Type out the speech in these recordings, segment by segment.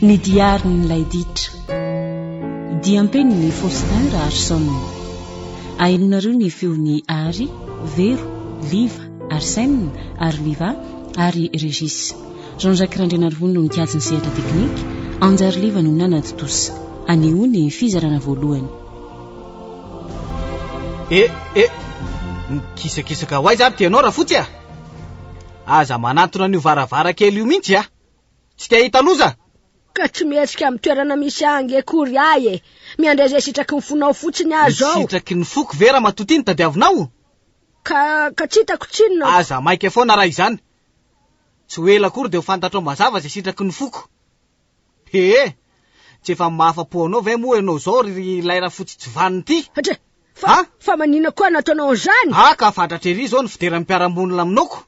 Ny diarin'ilay ditra. Diam-penin'i Faustin Raharison. Ahenonareo ny feon'i Ary, Vero, Liva, Arsène, ary Liva, ary Régis. Jean Jacques Randrianarivony no nikajy ny sehatra teknika, Anjary Liva no nanatontosa. Anehoa ny fizarana voalohany. Eh eh! Mikisakisaka ho aiza ary ty ianao Rafotsy a! Aza manantona an'io varavarakely io mihitsy ah! Tsy te hahita loza! Ka tsy mihetsika amin'ny toerana misy ahy ange akory ahy e! Miandray izay sitraky ny fonao fotsiny aho izao! Ny sitraky ny foko ve ramatoa ty no tadiavinao? Ka, ka tsy hitako tsinona aho! Aza maika foana raha izany! Tsy ho ela akory dia ho fantatrao mazava izay sitraky ny foko! Hee! Tsy efa mahafa-po anao ve moa ianao izao ry ilay rafotsy tsy vaniny ity? Dra! Fa, fa maninona koa no ataonao an'izany? Ah ka fatratra ery izao ny fideran'ny mpiara-monina aminao.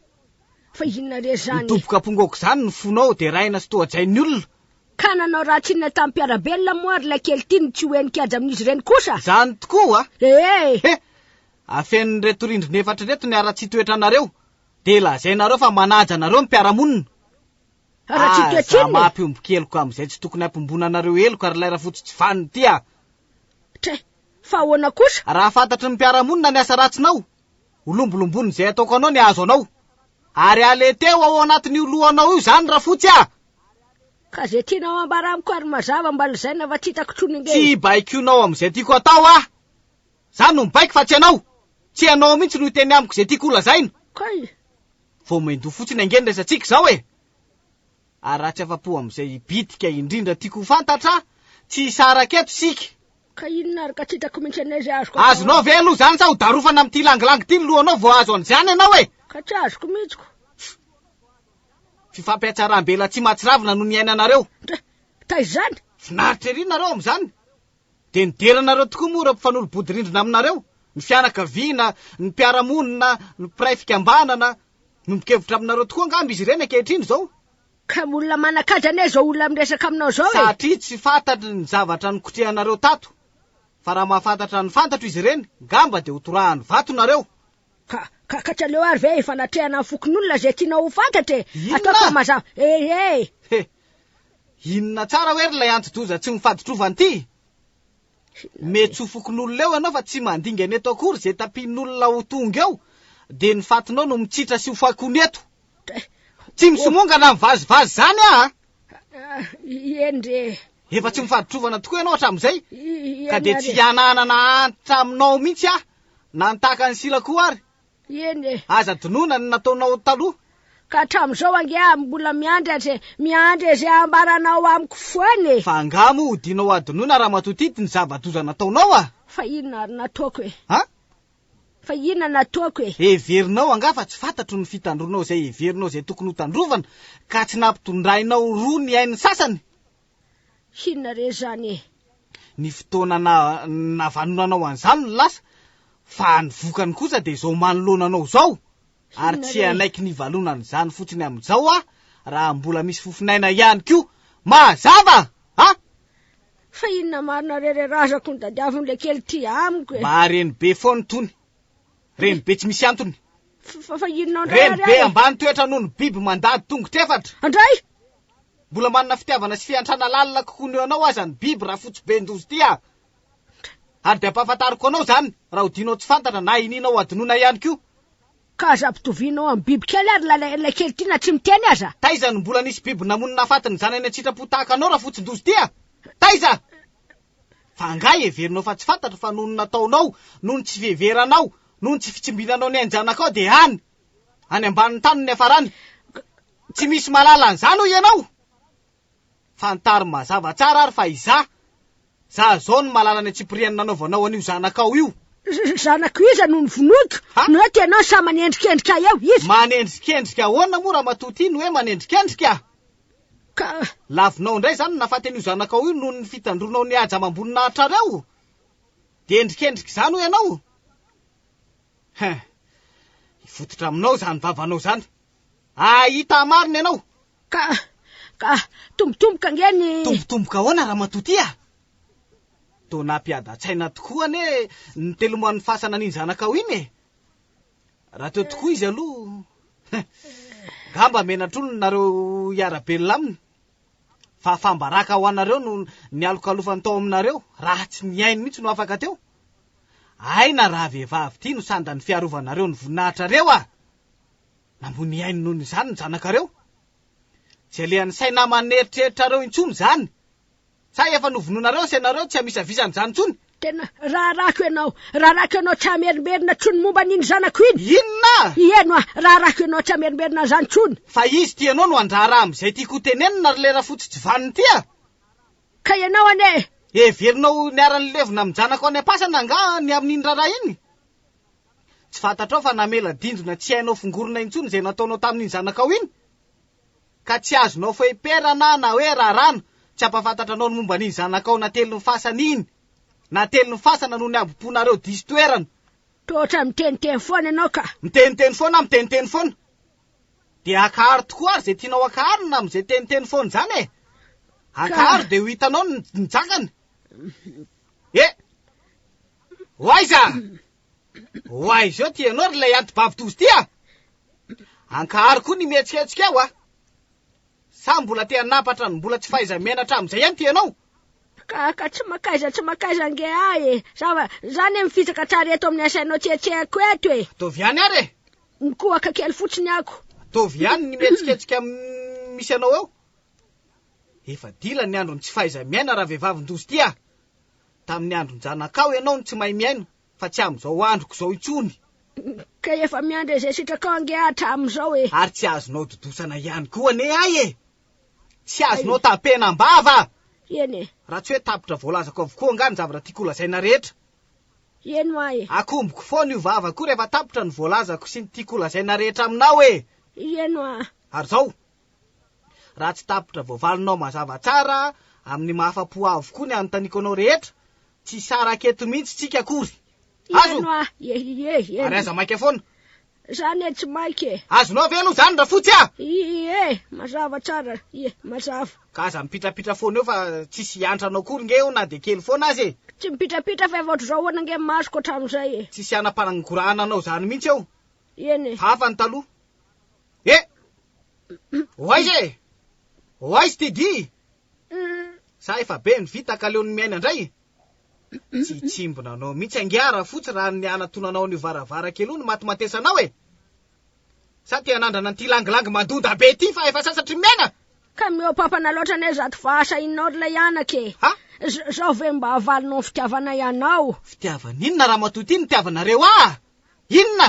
Fa inona re izany? Midoboka am-ponga aok'izany ny fonao, deraina sy tohajain'ny olona. Ka nanao ratsy inona tamin'ny mpiara-belona moa ary ilay kely ity no tsy ho henin-kiaja amin'izy ireny kosa? Izany tokoa oa? Hee! He! Afenin'ireto rindrina efatra ireto ny haratsian-toetranareo, dia lazainareo fa manaja anareo ny mpiara-monina. Haratsika tsinona e! Za mahampihombo keloka amin'izay tsy tokony hampihombona anareo heloka ry lay Rafotsy tsy vanona ity a! Tray! Fa ahoana kosa? Raha fantatry ny mpiara-monina ny asa ratsinao, holombolombonin'izay ataoko anao ny ahazo anao. Ary aleteo ao anatin'io lohanao io izany Rafotsy a! Ka izay tianao hambara amiko ary mazava mba lazaina fa tsy hitako intsony ange e! Tsy baikoinao amin'izay tiako hatao aho! Za no mibaiko fa tsy ianao! Tsy ianao mihitsy no hiteny amiko izay tiako holazaina! Kay! Vao main-doha fotsiny ange ny resatsika izao e! Ary raha tsy afa-po amin'izay bitika indrindra tiako ho fantatra, tsy hisaraka eto isika. Ka inona ary ka tsy hitako mihitsy anie izay azoko atao. Azonao ve aloha izany sa hodarofana amin'ity langilangy ity ny lohanao vao hahazo an'izany ianao e! Ka tsy azoko mihitsy ko. Fifampihatsaram-belatsihy mahatsiravina no niainanareo. Ndra! Taiza izany? Finaritra ery nareo amin'izany. Dia nideranareo tokoa moa ireo mpifanolo-bodirindrina aminareo, ny fianakaviana, ny mpiara-monina, ny mpiray fikambanana. Miombon-kevitra aminareo tokoa angamba izy ireny ankehitriny izao. Kamo olona manan-kaja anie izao olona miresaka aminao izao e! Satria tsy fantatry ny zavatra nikotrehanareo tato. Fa raha mahafantatra ny fantatro izy ireny, ngamba dia hotorahan'ny vato nareo. Ka, ka, ka tsy aleo ary ve ifanatrehana amin'ny fokonolona izay tianao ho fantatra e! Inona? Ataoko mazava eh eh! He! Inona tsara hoe ry ilay anti-doza tsy mifaditrovana ity? Mety tsy ho fokonolona eo ianao fa tsy mandingana eto akory, izay tapihin'olona ho tonga eo dia ny fatinao no mitsitra sy ho fakony eto. Tsy misomongana amin'ny vazivazy izany aho a! Ah, eny re! Efa tsy mifaditrovana tokoa ianao hatramin'izay, I- i- ka dia ianareo. tsy hanahanana antitra aminao mihitsy aho Na ny tahaka an'i Sila koa ary. Eny e. Aza dinoina ny nataonao taloha. Ka hatramin'izao ange aho mbola miandry azy e. Miandry izay hambaranao amiko foana e. Fa angaha moa ho dinao hadinoina Ramatoa Tity ny zava-doza nataonao a? Fa inona ary nataoko e? A? Fa inona nataoko e? Heverinao angaha fa tsy fantatro ny fitandroanao izay heverinao izay tokony hotandrovana ka tsy nampitondrainao roa ny ainy sasany? hinona re zany e! Ny fotoana navanonanao an'izany no lasa, fa ny vokany kosa dia izao manoloana anao izao! Ary tsy hanaiky ny valonan'izany fotsiny amin'izao aho, raha mbola misy fofon'aina ihany koa! Mazava a! Fa inona marina re re razako ny dadiaviny le kely ty amiko e! Mba reny be foana tony! Reny be tsy misy antony! Fa inona ndray ary aho e! Reny be ambany toetra noho ny biby mandady tongotra efatra! Andray! Mbola manana fitiavana sy fiantrana lalina kokoa ny eo anao aza ny biby rafotsiben-doza ity an! Ary dia ampahafantariko anao izany raha odianao tsy fantatra na inianao hadinoina ihany koa. Ka aza ampitovianao amin'ny bibikely ary ilay ilay kely ity na tsy miteny aza! Taiza no mbola nisy biby namono nahafaty ny zanany an-tsitrapo tahaka anao rafotsin-doza ity an! Taiza? Fa angaha heverinao fa tsy fantatra fa noho ny nataonao, noho ny tsy fiheveranao, noho ny tsy fitsimbinanao ny ain-janakao dia hany, any ambanin'ny tany ny hafarany. Tsy misy malala an'izany hoy ianao? Fantaro mazava tsara ary fa izaho, za zao no malala ny antsipiriany nanaovanao an'io zanakao io. Zanako iza no novonoiko? Ha? No eto ianao sa manendrikendrika eo? Iza? Manendrikendrika ahoana moa Ramatoa ity no hoe manendrikendrika? Ka Lavinao indray izany ny nahafaty an'io zanakao io noho ny fitandroanao ny haja amam-boninahitrareo? Dia endrikendrika izany hoy ianao? Hein! Hifototra aminao izany vavanao izany! Hahita marina ianao! Ka, ka, tombotomboka ange ny. Tombotomboka ahoana ramatoa ty a! Toa nampiadan-tsaina tokoa anie ny teloman'ny fasana an'iny zanakao iny e! Raha teo tokoa izy aloha, ngamba menatr'olona nareo hiara-belona aminy, fa fambaraka ho anareo no nialokalofany tao aminareo, raha tsy ny ainy mihitsy no afaka teo. Aina raha vehivavy ity no sandan'ny fiarovanareo ny voninahitrareo ah! Namoy ny ainy noho izany ny zanakareo. Tsy alehan'ny saina aman'eritreritrareo intsony izany. Sa efa novonoinareo sy ianareo tsy amisavisana izany intsony? Tena raharahako ianao, raharahako ianao tsy hamerimberina intsony momba an'iny zanako iny! Inona? Hiheno ah! Raharahako ianao tsy hamerimberina an'izany intsony! Fa izy ity ianao no handraharaha amin'izay tiako hotenenina ry lera fotsy tsy vanona ity ah! Ka ianao anie e! Heverinao ho niara-nilevina amin-janako any am-pasana angaha ny amin'iny raharaha iny? Tsy fantatrao fa namela dindona tsy hainao fongorina intsony izay nataonao tamin'iny zanakao iny? Ka tsy azonao fehiperana na hoe raràna tsy hampafantatra anao ny momba an'iny zanakao natelin'ny fasana iny? Natelin'ny fasana noho ny habom-ponareo diso toerana! Toa ohatran'ny miteniteny foana ianao ka! Miteniteny foana aho, miteniteny foana! Dia akaharo tokoa ary izay tianao akaharo na amin'izay teniteny foana izany e! Akaharo dia ho hitanao ny njakany! E! Ho aiza? Ho aiza eo ty ianao ry ilay antibavy tozy ty a! Ankaharo koa ny mihetsiketsika ao a! Sa mbola te hanampatra ny mbola tsy fahaiza-menatra amin'izay ihany ty ianao? Ka, ka tsy mankaiza tsy mankaiza ange aho e! Zava, zany e mifitsaka hatrary eto amin'ny asainao tsy etsehako eto e! Ataovy ihany ary e! Nikohaka kely fotsiny ako. Ataovy ihany ny mihetsiketsika misy anao eo. Efa dila ny andron'ny tsy fahaiza-miaina ravehivavin-doza ity ah! Tamin'ny andron-janakao ianao no tsy mahay miaina fa tsy amin'izao androko izao intsony. Ka efa miandry izay sitrakao ange aho hatramin'izao e! Ary tsy azonao dodosana ihany koa anie ahy e! Tsy azonao tampena am-bava! Eny e! Raha tsy hoe tapitra voalazako avokoa angaha ny zavatra tiako holazaina rehetra. Heno aho e! Akomboko foana io vavako rehefa tapitra ny voalazako sy ny tiako holazaina rehetra aminao e! Heno aho! Ary zao, raha tsy tapitra voavalonao mazava tsara amin'ny mahafa-po ahy avokoa ny anontaniako anao rehetra, tsy hisaraka eto mihitsy tsika akory! Azo? Heno aho! Iehieeh! Heno! Ary aza maika foana! Za ne tsy maika e! Azonao ve aloha zany Rafotsy a! Ie, mazava tsara, ie, mazava. Ka aza mipitrapitra foana eo fa tsisy hiantra anao akory nge eo na dia kely foana aza e! Tsy mipitrapitra fa efa ohatr'izao ahoana nge ny masoko hatramin'izay e! Tsisy hanam-panangorahana anao zany mihitsy eo! Eny e! Hafa ny taloha! Eh! Ho aiza e! Ho aiza ity dihy? Za efa be ny vita ka leo ny miaina ndray e! Tsy hitsimbina anao mihitsy ange aho Rafotsy raha ny hanatona anao an'io varavarakely io no matimatesanao e! Za te hanandrana an'ity langilangy mandoda be ity fa efa sasatry ny miaina! Ka mihoapampana loatra anie zato fa asa inona ary ilay anaka e! Ha? Zao ve mba avalinao ny fitiavanay anao? Fitiavana inona ramatoa ity nitiavanareo ahy? Inona?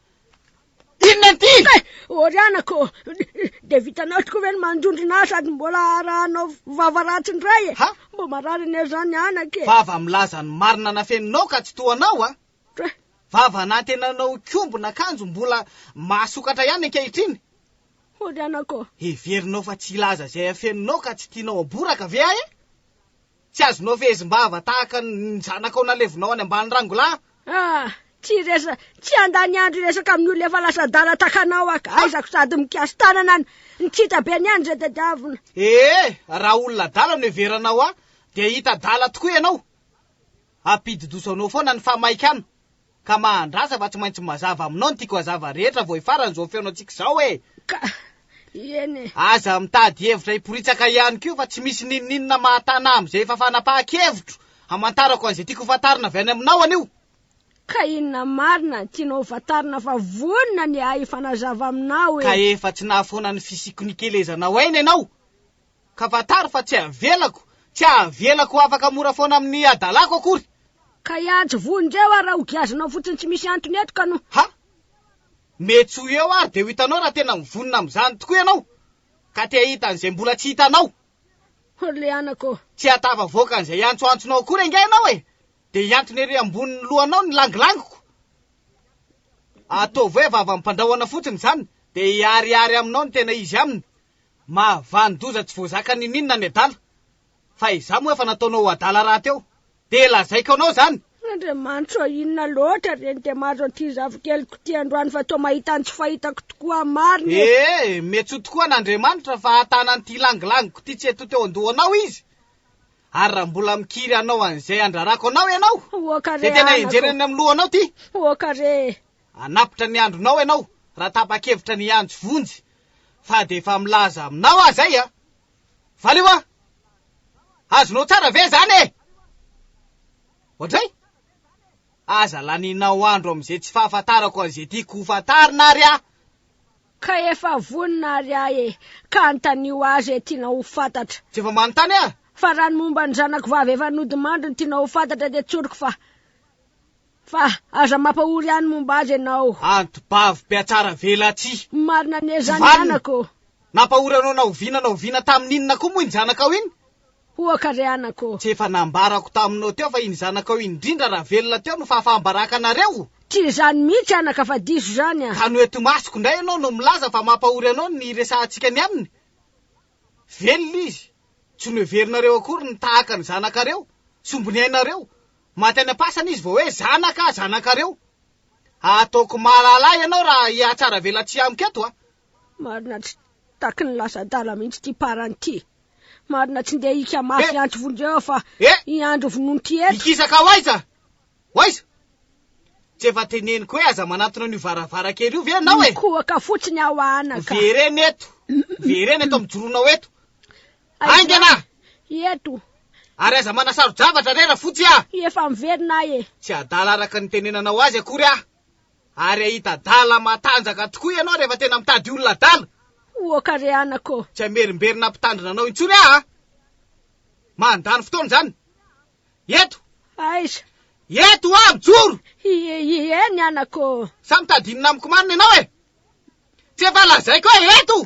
Inona ity? Eh, Orianako, dia vitanao tokoa ve ny mandondrona ahy sady mbola arahanao vava ratsy indray e? Ha? Mba marary anie izany anaka e! Vava milaza ny marina nafeninao ka tsy toa anao a! Tra- Vava nantenanao hikombona akanjo mbola mahasokatra ihany ankehitriny! Orianako, Heverinao fa tsy hilaza izay afeninao ka tsy tianao haboraka ve aho e? Tsy azonao fehezim-bava tahaka ny zanakao nalevinao any ambany rangolahy? Ah! Tsy resa, tsy handany andro hiresaka amin'ny olona efa lasa adala takanao aho ka. Aizako sady mikasi-tanana an! Ny tsy hita be ny any izay tadiavina. Ee! Raha olona adala no heveranao ahy dia hita adala tokoa ianao! Ampidi-doso anao foana ny fahamaikana! Ka mahandrasa fa tsy maintsy mazava aminao ny tiako hazava rehetra vao hifaran'izao feonantsika izao e! Ka! Eny e! Aza mitady hevitra hiporitsaka ihany koa fa tsy misy n'inon'inona mahatana ahy amin'izay efa fanapahan-kevitro hamantarako an'izay tiako hofantarina avy any aminao anio! Ka inona marina no tianao hofantarina fa vonona ny ahy hifanazava aminao e! Ka efa tsy nahafoana ny fisiako nikelezanao aina ianao! Ka fantaro fa tsy avelako, tsy avelako ho afaka mora foana amin'ny hadalako akory. Ka hiantso vonjeo aho raha ho giazinao fotsiny tsy misy antony eto ka no. Ha! Mety tsy ho eo ary dia ho hitanao raha tena mivonona amin'izany tokoa ianao, ka te hahita an'izay mbola tsy hitanao. Ho le anako ô! Tsy hahatafavoaka an'izay antsoantsonao akory angaha ianao e! Dia hihantona ery ambonin'ny lohanao ny langilangiko. Ataovy hoe vavam-pandrahona fotsiny izany, dia hiharihary aminao ny tena izy aminy. Mahavanon-doza tsy voazaka niniana ny adala. Fa izaho moa efa nataonao ho adala rahateo. Dia lazaiko anao izany. Andriamanitro a! Inona loatra re ny dia mahazo an'ity zafikeliko ity androany fa toa mahita ny tsy fahitako tokoa marina e! Ee, miantsoa tokoa an'Andriamanitra fa hatana an'ity langilangiko ity tsy hetoha teo an-dohanao Izy. Ary raha mbola mikiry hanao an'izay handrarako anao ianao, dia tena henjehina eny amin'ny lohanao ity. Oka re e! Hanapitra ny andronao ianao raha tapa-kevitra ny hiantso vonjy fa dia efa milaza aminao aho izay a! Valio a! Azonao tsara ve izany e! Ohatray? Aza lanianao andro amin'izay tsy fahafantarako an'izay tiako hofantarina ary aho! Ka efa vonona ary aho e! Ka anontanio ahy izay tianao ho fantatra! Tsy efa manontany aho? Fa raha ny momba ny zanako vavy efa nodimandry no tianao ho fantatra dia tsoriko fa. Fa aza mampahory any momba azy ianao. Anti-bavy mpiatsara velatsihy. Marina anie izany Vanina, anako ô. Nampahory anao na oviana na oviana tamin' inona koa moa iny zanakao iny? Hoaka re anako ô. Tsy efa nambarako taminao teo fa iny zanakao iny indrindra raha velona teo no fahafaham-baraka anareo? Tsy izany mihitsy anaka fa diso izany a. Ka no eto imasoko indray ianao no milaza fa mampahory anao ny hiresahantsika ny aminy? Velona izy. Tsy noheverinareo akory ny tahaka ny zanakareo, sombiny ainareo, Maty any am-pasana izy vao hoe zanaka zanakareo. Ataoko malalà ianao raha hihatsaravelatsihy amiko eto a! Marina tsy taky ny lasa adala mihitsy ity parany ity. Marina tsy ndeha hika mafy Eh! hiantso vondro eo fa Eh! hiandry vonoin'ity eto. Hikisaka ho aiza? Ho aiza? Tsy efa teneniko hoe aza manantona an'io varavarankely io ve ianao e! Mikohaka fotsiny aho anaka. Miverena eto! Miverena eto mijoroanao eto! Haingana! Eto. Ary aza manasaro-javatra re Rafotsy a! Efa miverina aho e! Tsy adala araka ny nitenenanao azy akory aho. Ary hahita adala matanjaka tokoa ianao rehefa tena mitady olona adala. Oka re anako ô! Tsy hamerimberina hampitandrina anao intsony aho a! Mandany fotoana izany. Eto! Aiza? Eto aho mijoro! Ie, ie, eny anako ô! Sa mitady inona amiko marina ianao e? Tsy efa lazaiko hoe eto!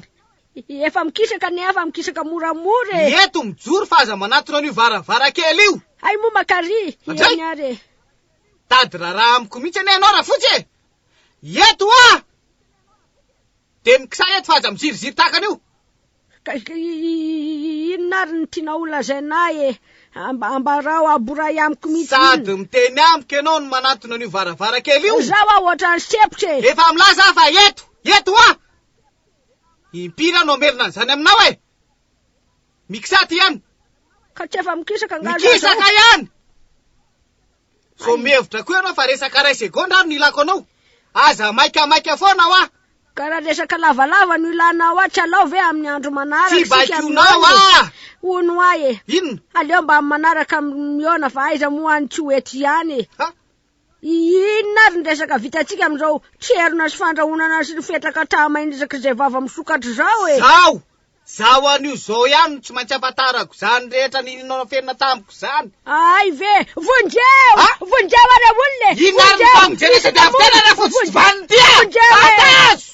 Efa mikisaka anie aho fa mikisaka moramora e! Eto mijoro fa aza manatona an'io varavarankely io! Hay moa makary, iany ary e! Tady raharaha amiko mihitsy anie ianao Rafotsy e! Eto aho! Dia mikisay eto fa aza miziriziry tahaka an'io! Ka inona ary ny tianao ho lazaina ahy e? Ambarao, aboray amiko mihitsy inona? Sady miteny amiko ianao no manantona an'io varavarankely io? Zao aho ohatran'ny sempotra e! Efa milaza aho fa eto, eto hoa! Impiry aho no hamerina an'izany aminao e! Mikisà aty ihany! Ka tsy efa mikisaka angaha za zao? Mikisaka ihany! Vao mihevitra koa ianao fa resaka iray segondra ary no ilako anao. Aza maikamaika foana hoa! Ka raha resaka lavalava no ilana hoa tsy alao ve amin'ny andro manaraka isika mihaona e? Tsy baikoinao hoa! Hono hoa e! Inona? Aleo mba amin'ny manaraka mihaona fa aiza moa any tsy ho eto ihany e! Ha? Inona ary ny resaka vitantsika amin'izao tserona sy fandrahonana sy ny fetraka hatraha-mainirak'izay vava misokatra izao e! Zao! Zaho any io zao ihany no tsy maintsy afantarako zany rehetra nino nafenina tamiko izany. Ahay ve? Vonjeo! Ah! Vonjeo ary ao olona e! Inona ary ny famonjena tsy tadiavo tena raha vao tsy vanona ty a! Fantazo!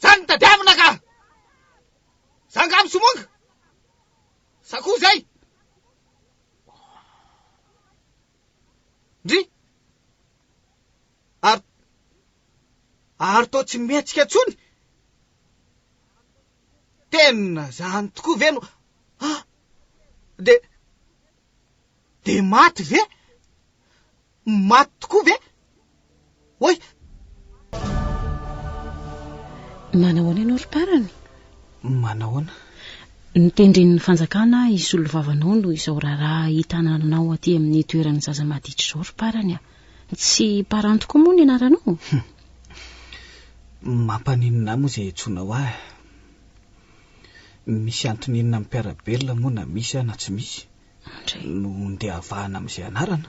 Zany no tadiavina ka! Za nga misomonga? Sa koa zay? Ndry! Ary... ary toa tsy mihetsika tsony? Tena zany tokoa ve no... Ah! De... de maty ve? Maty tokoa ve? Oay! Manao ahoana ianao ry parany? Manao ahoana? Ny tendren'ny fanjakana hisolo vava anao noho izao raharaha hitananao aty amin'ny toeran'ny zaza maditra izao ry parany a. Tsy parany tokoa moa ny anaranao? Mampaninona ahy moa izay iantsoanao ahy. Misy antony inona amin'ny mpiara-belona moa na misy aho na tsy misy? Mandray. No ndehavahana amin'izay anarana.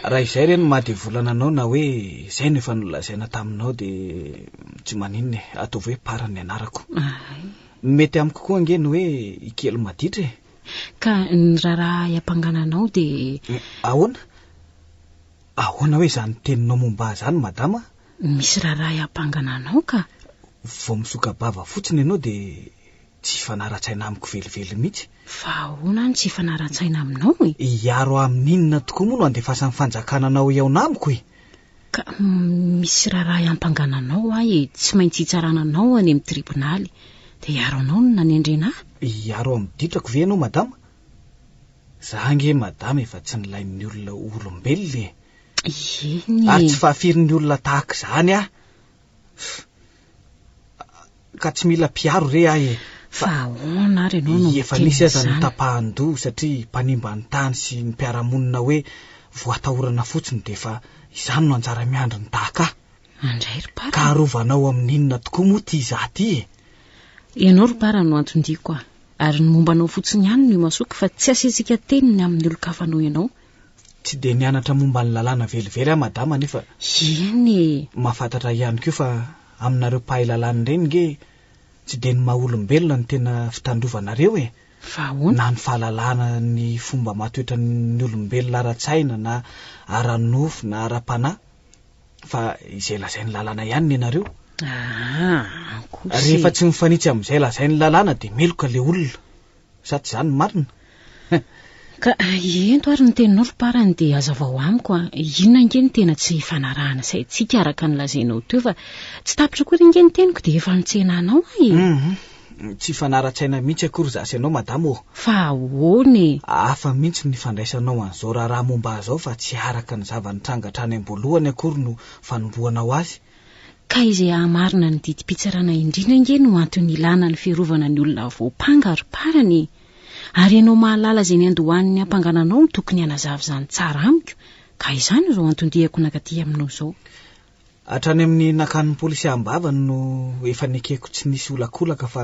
Raha izay re no mahadevolana anao na hoe izay no efa nolazaina taminao dia tsy maninona e, ataovy hoe Para ny anarako. Ay. Ny mety amiko koa ange ny hoe i Kely maditra e. Ka ny raharaha ahy ampangana anao dia. Ahoana? Ahoana hoe izany teninao momba ahy izany madama? Misy raharaha ahy ampangana anao ka. Vao misoka-bava fotsiny ianao dia. Tsy hifanara-tsaina amiko velively mihitsy. Fa ahoana no tsy hifanara-tsaina aminao e? Hiaro ahy amin'ny inona tokoa moa no andefasan'ny fanjakana anao hihaona amiko e? Ka misy raharaha hiampangana anao ahy e, tsy maintsy hitsarana anao any amin'ny tribonaly. Dia hiaro anao no nanendrena ahy? Hiaro amin'ny ditrako ve ianao madama? Za ange madama efa tsy nilain'ny olona ho olombelona e! Eny e! Ary tsy fahafirin'ny olona tahaka izany aho. ka tsy mila mpiaro re ahy e! Fa ahoana ary ianao no miteny izany? Efa nisy aza ny tapahan-doha satria mpanimba ny tany sy ny mpiara-monina hoe voatahorana fotsiny dia efa izany no anjara miandry ny daka. Andray ry Para. Ka arovanao amin'inona tokoa moa ity izaho ity e? Ianao ry Para no anton-diako a! Ary ny momba anao fotsiny ihany no imasoako fa tsy asiantsika teny ny amin'ny olon-kafa noho ianao Tsy dia nianatra momba ny lalàna velively aho madama nefa Eny e! mahafantatra ihany koa fa aminareo mpahay lalàna ireny nge tsy dia ny maha olombelona no tena fitandrovanareo e! Fa ahoana? Na ny fahalalana ny fomba matoetra ny olombelona ara-tsaina na ara-nofo na ara-panahy fa izay lazain'ny lalàna ihany nenareo. Aa! Ankoatra e! Rehefa tsy mifanitsy amin'izay lazain'ny lalàna dia meloka ilay olona. Sady izany no marina. Ka ento ary ny teninao ry parany dia azavao amiko an, inona ange ny tena tsy ifanarahana saintsika araka ny lazainao teo fa tsy tapitra akory ange ny teniko dia efa mitsena anao aho e. Hum, tsy hifanara-tsaina mihitsy akory za sy anao madama ô. Fa ahoana e? Hafa mihitsy ny fandraisanao an'izao raharaha momba ahy izao fa tsy araka ny zava-nitranga hatrany am-boalohany akory no fanombohanao azy Ka izay hahamarina ny didim-pitsarana indrindra ange no antony ilàna ny fiarovana ny olona voampanga ry parany e! Ary ianao mahalala izay niandohan'ny hampangana anao no tokony hanazava izany tsara amiko ka izany izao anton-diako nankaty aminao izao. Hatrany amin'ny nakan'ny polisy am-bava no efa nekeko tsy nisy olakolaka fa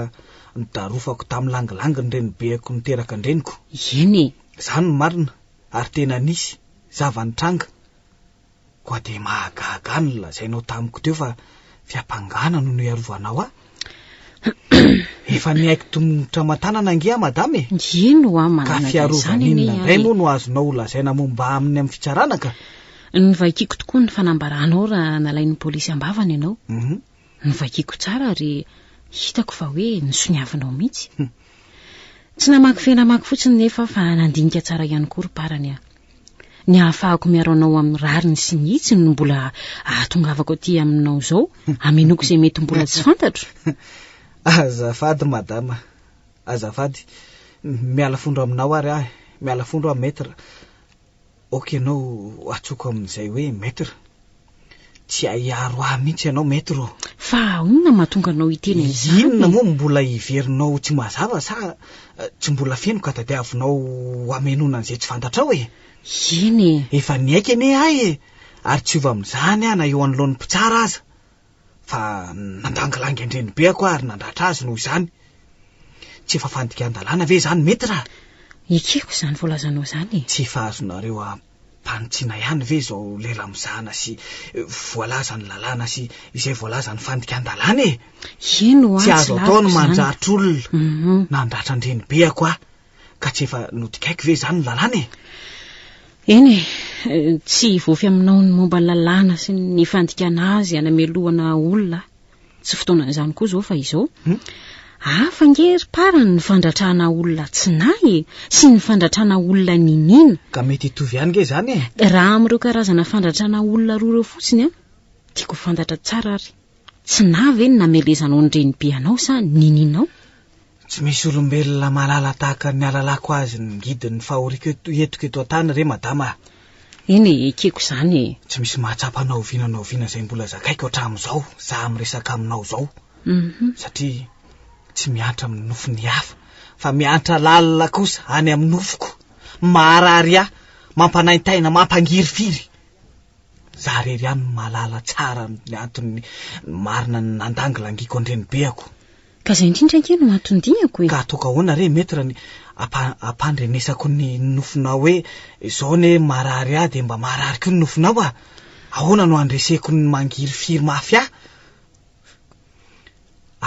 nodarofako tamin'ny langilangy ny renibeko niteraka an-dreniko. Eny e! Izany no marina ary tena nisy zava-nitranga. Koa dia mahagaga ahy ny nolazainao tamiko teo fa fiampangana no niarovanao ahy. Efa niaiky tongotra aman-tanana ange aho madama e. Ino ho aho manana izany anie. Ka fiarovana inona indray moa no azonao holazaina momba aminy amin'ny fitsarana ka? Novaikiko tokoa ny fanambaranao raha nalain'ny polisy am-bavany ianao. Mhm. Novakiako tsara ary hitako fa hoe nisoniavinao mihitsy. Tsy namaky feno hamaky fotsiny nefa aho fa nandinika tsara ihany koa ry Parany a. Ny ahafahako miaro anao amin'ny rariny sy ny hitsiny no mbola ahatongavako aty aminao izao hamenoako izay mety mbola tsy fantatro. Azafady madama, azafady. Miala fondro aminao ary aho e. Miala fondro aho Maître. Ok ianao atsoko amin'izay hoe maître. Tsy ahiaro ahy mihitsy ianao maître ô. Fa ahona mahatonga anao hiteny an'izany? Inona moa no mbola heverinao tsy mazava sa tsy mbola feno ka tadiavinao hamenoana an'izay tsy fantatrao e? Eny e. Efa niaiky anie ahy e, ary tsy hiova amin'izany aho na eo anoloan'ny mpitsara aza. fa nandangilangy an-drenibeako aho ary nandratra azy noho izany. Tsy efa fandikan-dalàna ve izany? Mety raha. Ekeko izany voalazanao izany e! Tsy efa azonareo ampanitsiana ihany ve izao lela mizana sy voalaza ny lalàna sy izay voalaza ny fandikan-dalàna e! Eny ho'a, tsy lafiko izany. Tsy azo atao ny mandratra olona. Nandratra an-drenibeako aho. Ka tsy efa nodikaiko ve izany ny lalàna e? Eny e, tsy hivofy aminao ny momba ny lalàna sy ny fandikana azy hanamelohana olona aho. Tsy fotoanan'izany koa izao fa izao. Hmm? Hafa nge ry parany ny fandratrana olona tsy nahy e, sy ny fandratrana olona niniana. Ka mety hitovy ihany nge izany e? Raha amin'ireo karazana fandratrana olona roa ireo fotsiny an, tiako ho fantatra tsara ary, tsy nahy ve ny namelezanao ny renibe anao sa ny nininao? Tsy misy olombelona malala tahaka ny alalako azy ny guide ny fahoriako eto etiko eto an-tany re madama a! Eny e, ekeko izany e! Tsy misy mahatsapa na oviana na oviana izay mbola zakaiko hatramin'izao za miresaka aminao izao satria tsy miantra amin'ny nofon'ny hafa fa miantra lalina kosa any amin'ny nofoko, maharary ahy, mampanaintaina, mampangirifiry. Za irery ihany no mahalala tsara ny antony marina ny nandangilangiako an-drenibeako. Ka izay indrindra ange no anton-diako e! Ka ataoko ahoana re Maître ny hampandrenesako ny nofinao hoe izao anie marary ahy dia mba marary koa ny nofinao a! Ahoana no handreseko ny mangirifiry mafy ahy?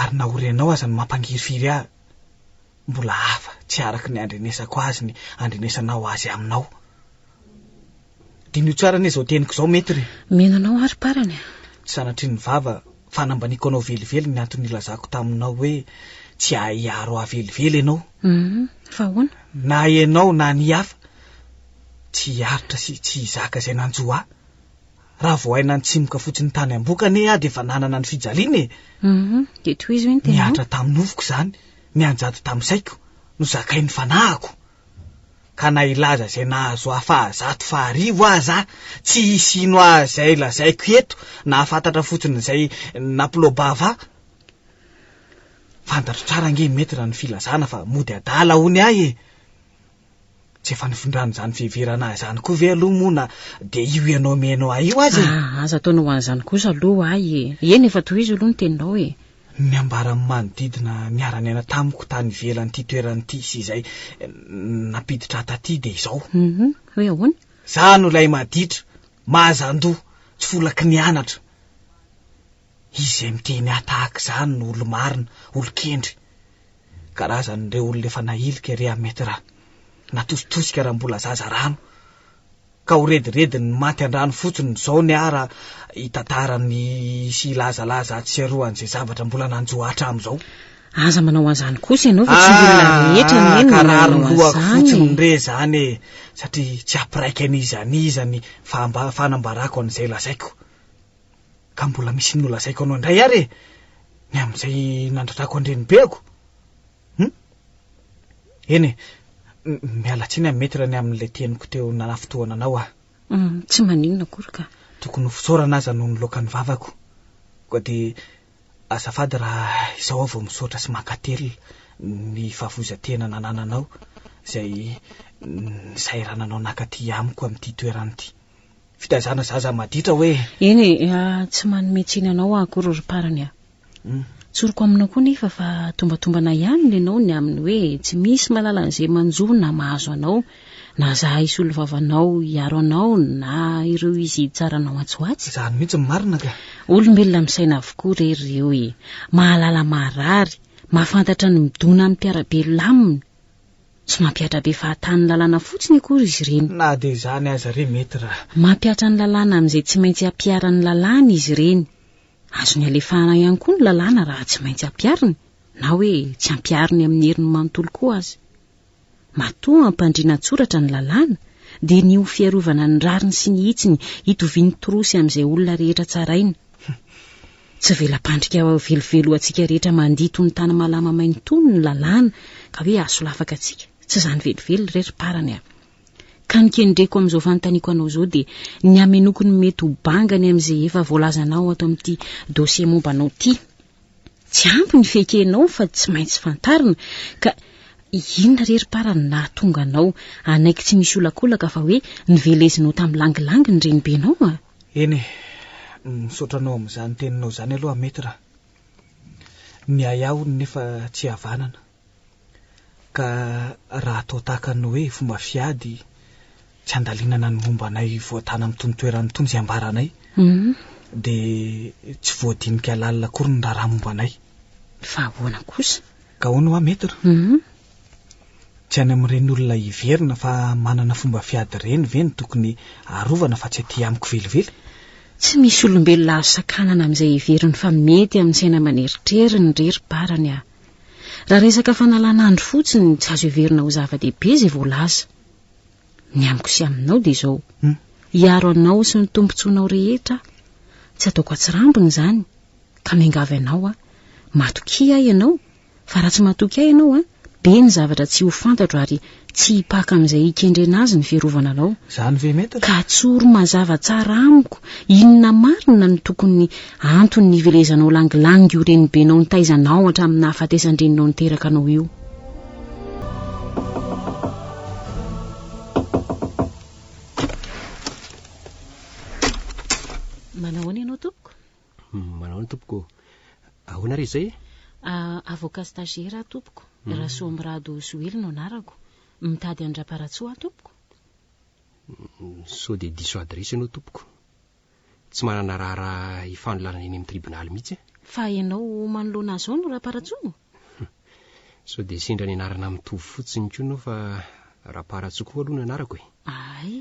Ary na ho renao aza no mampangirifiry ahy. Mbola hafa, tsy araka ny andrenesako azy ny andrenesanao azy aminao. Diniho tsara anie izao teniko izao, Maître. Mino anao aho ry parany a. Tsy sanatria ny vava, fa nambaniako anao velively ny antony nilazako taminao hoe tsy hahiaro ahy velively ianao. Humm, fa ahoana? Na ianao na ny hafa, tsy hiaritra sy tsy hizaka izay nanjo ahy. Raha vao hay nantsimoka fotsiny tany am-boka anie aho dia efa nanana ny fijaliana e! Humm, dia tohizo ve ny teninao? Nihatra tamin'ny nofoko izany. nianjady tamin'ny saiko no zakain'ny fanahiko, ka na hilaza izay nahazo ahy fahazato faharivo aza aho, tsy hisy hino ahy izay lazaiko eto, nahafantatra fotsiny izay nampilobava ahy. Fantatro tsara ange i Maître ny filazana fa mody adala hono ahy e! Tsy efa nifindran'izany fiheverana ahy izany koa ve aloha moa na dia io ianao mihaino ahy io aza e? Ah, aza ataona ho an'izany kosa aloha ho ahy e. Eny, efa tohizo aloha ny teninao e. Ny ambaran'ny manodidina niara-niaina tamiko tany ivelan'ity toerana ity sy izay nampiditra ahy taty dia izao. Mhm, hoe ahoana? Izaho no ilay maditra, mahazan-doha, tsy volaky ny anatra. Izay miteny ahy tahaka izany no olo-marina, olon-kendry. Karazan'ireo olona efa nahilika ery amin'ny Metra. Natositosika raha mbola zaza rano. Ka ho redirediny ny maty an-drano fotsiny izao ny ahy raha hitantara ny sy hilazalaza ahatsiaroany izay zavatra mbola nanjo ahy hatramin'izao. Aza manao an'izany kosa ianao fa tsy ny olona rehetra anie no manao an'izany. Ka rariny lohako fotsiny re izany e! Satria tsy hampiraika an'iza an'iza ny fanambarako an'izay lazaiko. ka mbola misy nolazaiko anao indray ary e, ny amin'izay nandratrako an-drenibeko. Hum? Eny e, miala tsiny aho Maître ny amin'ilay teniko teo nanafintohana anao aho. Hum, tsy maninona akory ka. Tokony ho fisaorana aza no niloaka ny vavako. Koa dia azafady raha izao aho vao misaotra sy mankatelina ny fahavoizan-tena nanananao izay nisahirana anao naka aty amiko amin'ity toerana ity. fitaizana zaza maditra hoe. Eny e, tsy manome tsiny anao aho akory ry parany a. Tsoriko aminao koa nefa fa tombatombana ihany ny anao ny amin'ny hoe tsy misy malala an'izay manjo na mahazo anao, na za hisolo vavanao hiaro anao na ireo izy hitsara anao atsy ho atsy. Izany mihitsy ny marina ka. Olombelona misaina avokoa re ry reo e. Mahalala maharary, mahafantatra ny midona amim-piarabelona aminy. Tsy mampihatra be fahatany ny lalàna fotsiny akory izy ireny. Na dia izany aza re mety raha. Mampihatra ny lalàna amin'izay tsy maintsy hampiharan'ny lalàna izy ireny. Azony alefahana ihany koa ny lalàna raha tsy maintsy hampihariny na hoe tsy hampihariny amin'ny heriny manontolo koa aza. Matoa hampandriana an-tsoratra ny lalàna dia ny ho fiarovana ny rariny sy ny hitsiny hitovian'ny torosy amin'izay olona rehetra tsaraina. Tsy vela-pandrika ho velively ho antsika rehetra mandihy toy ny tany malama main tony ny lalàna ka hoe hahasolafaka antsika, tsy izany velively re ry parany a! Ka ny kendreko amin'izao fanontaniako anao izao dia ny hamenoako ny mety ho bangany amin'izay efa voalazanao ato amin'ity dossier momba anao ity. Tsy ampy ny fiekenao fa tsy maintsy fantarina ka inona re ry para no nahatonga anao hanaiky tsy misy olakolaka fa hoe novelezinao tamin'ny langilangy ny renibenao a! Eny e, misaotra anao amin'izany teninao izany aloha Maître a. Ny ahiahy hono nefa tsy havanana, ka raha atao tahaka ny hoe fomba fiady tsy handalinana ny momba anay voatàna amin'itony toerana itony izay ambaranay, dia tsy voadinika lalina akory ny raharaha momba anay. Fa ahoana kosa? Ka hono hoa Maître? Tsy any amin'ireny olona hiverina fa manana fomba fiady ireny ve no tokony arovana fa tsy aty amiko velively? Tsy misy olombelona azo sakanana amin'izay heveriny fa mety amin'ny saina aman'eritreriny re ry Barany a! Raha resaka fanalan'andro fotsiny tsy azo heverina ho zava-dehibe izay voalaza. Ny amiko sy aminao dia izao, hiaro anao sy ny tombontsoanao rehetra aho, tsy ataoko atsirambina izany, ka miangavy anao aho, matokia ahy ianao, Fa raha tsy matoky ahy ianao, be ny zavatra tsy ho fantatro ary tsy hipaka amin'izay hikendrena azy ny fiarovana anao. Izany ve mety ry. Ka atsoro mazava tsara amiko inona marina no tokony antony nivelezanao langilangy io renibenao nitaiza anao hatramin'ny nahafatesan-dreninao niteraka anao io. Manao ahoana ianao tompoko? Manao ny tompoko. Ahoana re izay e? Avocat stagiaire aho tompoko. Rasoamirado Joely no anarako. Mitady an-dRaparatsoa aho tompoko. Sao dia diso adiresy ianao tompoko. Tsy manana raharaha hifanolanana eny amin'ny tribonaly mihitsy aho. Fa ianao manoloana azy ao no Raparatsoa? Sao dia sendra ny anarana mitovy fotsiny koa ianao fa Raparatsy koa aloha ny anarako e. Ay.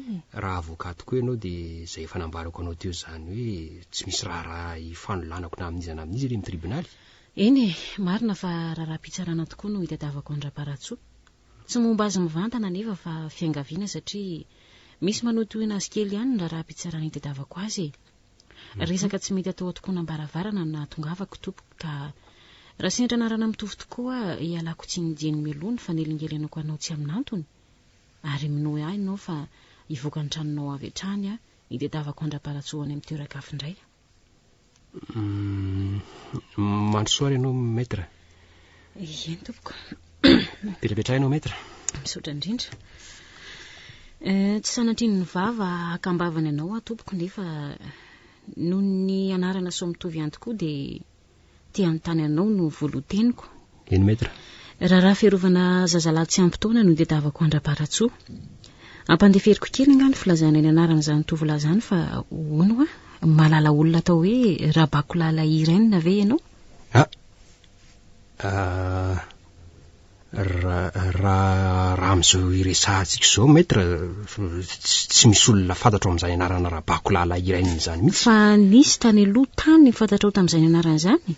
Raha avocat koa ianao dia izay efa nambarako anao teo izany hoe tsy misy raharaha hifanolanako na amin'iza na amin'iza ery ny tribonaly. Eny e, marina fa raharaham-pitsarana tokoa no itadiavako an-dRaparatsoa. Tsy momba azy mivantana anefa fa fiangaviana satria misy manohitohina azy kely ihany ny raharaham-pitsarana itadiavako azy e. Resaka tsy mety atao an-tokonam-baravarana no nahatongavako tompoko ka raha sendra anarana mitovy tokoa ialako tsiny dieny mialoha ny fanelingelenako anao tsy amin'antony ary minoe ahy nao fa hivoaka ny tranonao avy hatrany aho itedavako andra-palatsoa any amin'ny toeran-kafo indray. Mandrosoa ary ianao Maître. Eny tompoko. Petrapetrahina ao maître. Misaotra indrindra. Eh, tsy sanatrin'ny vava hakambavany anao aho tompoko nefa noho ny anarana sao mitovy ihany tokoa dia te hanontany anao no voaloteniko. Eny maître. Raharaha fiarovana zazalahy tsy ampy taona no dedavako andra-paratsoa. Ampandeferiko kely nga ny filazana ny anaran'izany tovolahy izany fa hono wa, malala olona atao hoe Rabakolala Irene ve ianao? Ah! ah! Raha raha amin'izao iresahantsika izao maître tsy misy olona fantatro amin'izany anarana rabako lahilahy iray an'izany mihitsy. Fa nisy tany aloha tany fantatrao tamin'izany anarana izany?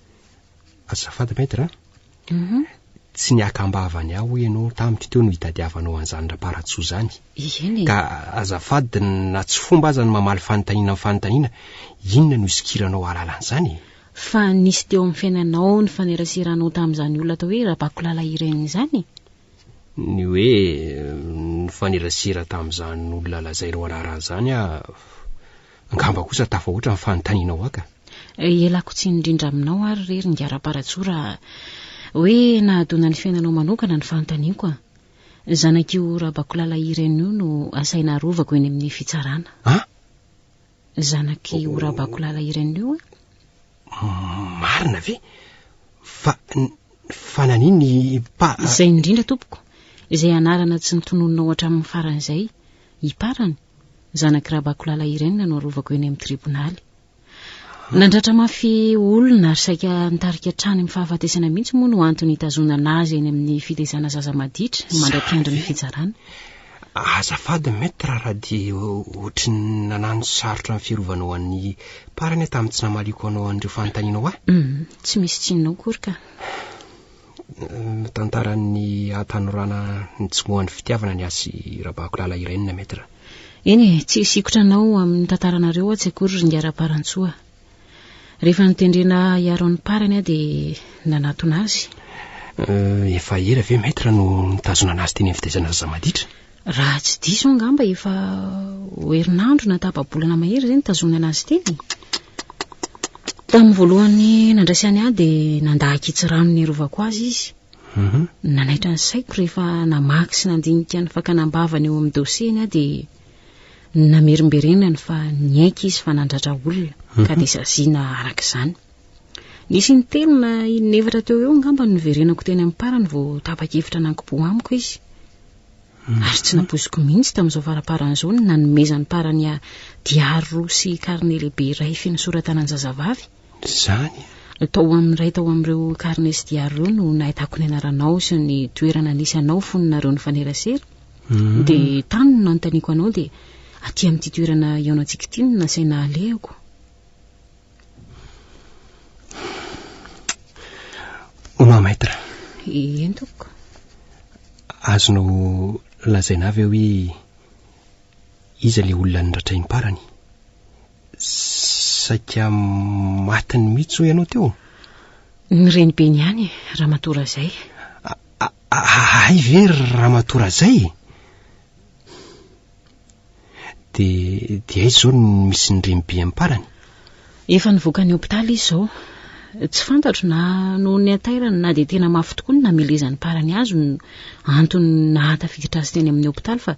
Azafady maître a. Mhm. Tsy niakambava ny aho ianao tamiko teo no hitadiavanao an'izany raparatsoa izany. Eny e. Ka azafady na tsy fomba aza ny mamaly fanontaniana amin'ny fanontaniana, inona no isokiranao hahalala an'izany e? Fa nisy teo amin'ny fiainanao nifaneraseranao tamin'izany olona atao hoe Rabakolala Irène izany e? Ny hoe nifanerasera tamin'izany olona lazainao anarany izany aho, angamba kosa tafahoatra ny fanontanianao ahy ka. Ialako tsiny indrindra aminao ary re ry Ngarapa Ratsoa raha hoe nahadona ny fiainanao manokana ny fanontaniako a! Zanak'io Rabakolala Irène io no asaina arovako eny amin'ny fitsarana. An! Ny zanak'io Rabakolala Irène io an? Marina ve? Fa fa nanin ny pa Izay indrindra tompoko, izay anarana tsy notononinao hatramin'ny farany izay, Iparany, zanak'i Rabakolala Irène no arovako eny amin'ny tribonaly. Nandratra mafy olona ary saika nitarika hatrany amin'ny fahafatesana mihitsy moa no antony hitazonana azy eny amin'ny fitaizana zaza maditra mandra-piandry ny fitsarana. Azafady Maître raha dia ohatry ny nanano sarotra ny firovanao an'i Par anie tamin'ny tsy namaliako anao an'ireo fanontanianao ahy. Hum, tsy misy tsinona akory ka. Hum, tantaran'ny hatanorana nitsomohan'ny fitiavana ny ahy sy Rabako Lala Irène Maître. Eny e, tsy hisikotra anao amin'ny tantaranareo atsy akory ry Ngara Parantsoa. Rehefa notendrena hiaro ny parany aho dia nanatona azy. Euh, efa ela ve Maître no nitazona an'azy teny amin'ny fitaizana zaza maditra? Raha tsy diso aho angamba efa ho herinandro na tapa-bolana mahery izay nitazonana azy teny. Tamin'ny voalohany nandraisany ahy dia nandà ankitsirano niarovako azy izy. Mhm. Nanaitra ny saiko rehefa namaky sy nandinika ny fakana am-bavany eo amin'ny dossier-ny aho dia namerimberenany fa niaiky izy fa nandratra olona mhm. ka dia saziana araka izany nisy ny telo na inevatra teo eo angamba ny noverenako teny amin'ny parany vao tapa-kevitra nankipo amiko izy mhm. ary tsy napoiziko mihitsy tamin'izao faraparan'izao ny nanomezany parany a diary roa sy karne lehibe iray finosoratanany zazavavy Izany e! Tao amin'ny iray tao amin'ireo carnets diary ireo no nahitako ny anaranao sy ny toerana nisy anao fony nareo nifanerasera. Hmm. Dia tany no nanontaniako anao dia aty amin'ity toerana iaonantsika ity no nasaina alehako. Au revoir, maître. Eny tompoko. Azonao lazaina ve hoe iza ilay olona niratraim-parany? Saika matiny mihitsy hoy ianao teo? Ny renibeny ihany, Ramatoa Razay. Ahay ve ry Ramatoa Razay? Dia dia aiza izao ny misy ny renibe amparany? Efa nivoaka ny hopitaly izy izao. Tsy fantatro na noho ny hatairany na dia tena mafy tokoa ny namelezany parany azy no antony nahatafiditra azy teny amin'ny hopitaly fa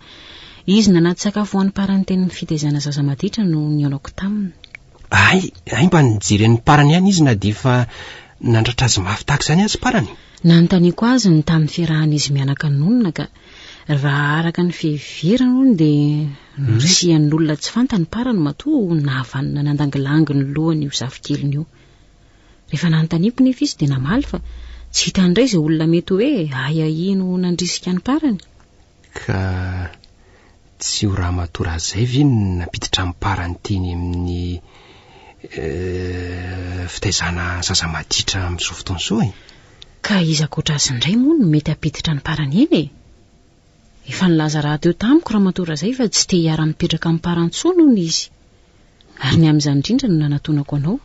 Izy nanady sakafo ho an'ny parany teny amin'ny fitaizana zaza maditra no nihaonako taminy. Hay, hay mba nijery an'ny parany ihany izy na dia efa nandratra azy mafy tahaka izany aza parany. Nanontaniako azy ny tamin'ny fiarahan'izy mianaka nonina ka. Raha araka ny fiheverany hono dia norisihan'olona tsy fantany parany matoa nahavanona nandangilangy ny lohany io zafikeliny io. Rehefa nanontaniako nefa izy dia namaly fa tsy hitany indray izay olona mety hoe ahiahiny ho nandrisika ny parany. Ka tsy ho ramatoa Razay ve no nampiditra am-parany teny amin'ny eh, fitaizana zaza maditra amin'izao fotoana izao e? Ka iza ankoatra azy indray moa no mety hampiditra ny parany eny e? Efa nilaza rahateo tamiko ramatoa Razay fa tsy te hiara-mipetraka amin'ny parany intsony hono izy. Ary ny amin'izany indrindra no nanatonako anao.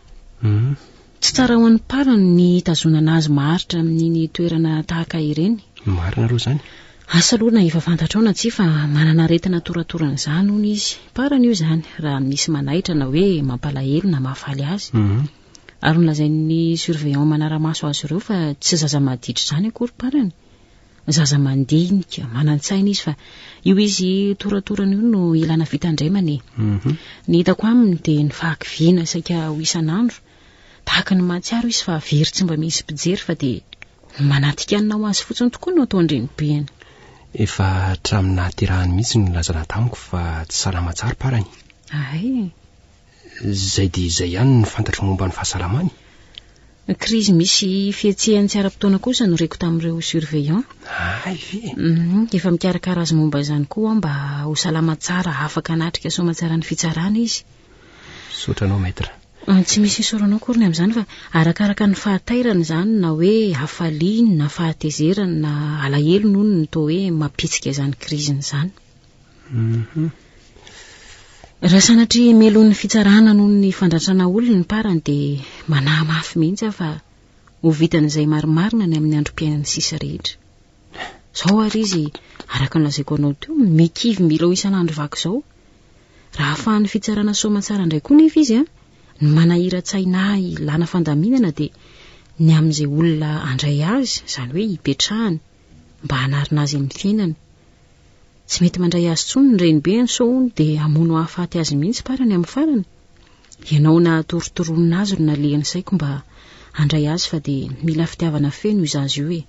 Tsy tsara ho an'ny mparany ny hitazonana azy maharitra amin'iny toerana tahaka ireny. Marina aloha izany. Asa aloha na efa fantatrao na tsia fa manana aretina toratoran'izany hono izy. Mparany io izany raha misy manaitra na hoe mampalahelo na mahafaly azy. Ary nolazain'ny surveillant manara-maso azy ireo fa tsy zaza maditra izany akory mparany. Zaza mandinika, manan-tsaina izy fa io izy toratorana io no ilana fitandremana e. Mhm. Ny hitako aminy dia ny fahakiviana saika ho isan'andro. Tahaka ny mahatsiaro izy fa very tsy mba misy mpijery fa dia ny manatikanina ho azy fotsiny tokoa no ataon-drenibeny. Efa hatramin'ny nahaterahany mihitsy no nilazana tamiko fa tsy salama tsara parany. Ahay, Izay dia izay ihany ny fantatro momba ny fahasalamany. Ny krizy misy fihetsehany tsy ara-potoana kosa no reko tamin'ireo surveillant. Hay ve? Mhm, efa mikarakara azy momba izany koa aho mba ho salama tsara afaka hanatrika soamatsaran'ny fitsarana izy. Misaotra anao maître. Ah, tsy misy isaora anao akory ny amin'izany fa arakaraka ny fahatairany izany na hoe hafaliany na fahatezerany na alahelony hono no toa hoe mampihetsika izany kriziny izany. Mhm. Raha sanatria melohin'ny fitsarana noho ny fandratrana olona ny parany dia manahy mafy mihitsy aho fa ho vitan'izay marimarina ny amin'ny androm-piainan'ny sisa rehetra. Zao ary izy, araka ny lazaiko anao teo, mikivy mila ho isan'andro vaky izao. Raha afahan'ny fitsarana soamatsara indray koa nefa izy, a, ny manahira-tsaina ahy lana fandaminana dia ny amin'izay olona andray azy, izany hoe hipetrahany. mba hanarina azy amin'ny fiainany. Tsy mety mandray azy intsony ny renibeny sao hono dia hamono hahafaty azy mihitsy parany amin'ny farany. Ianao nahatorotoroana azy no nalehan'ny saiko mba handray azy fa dia mila fitiavana feno io zaza io e!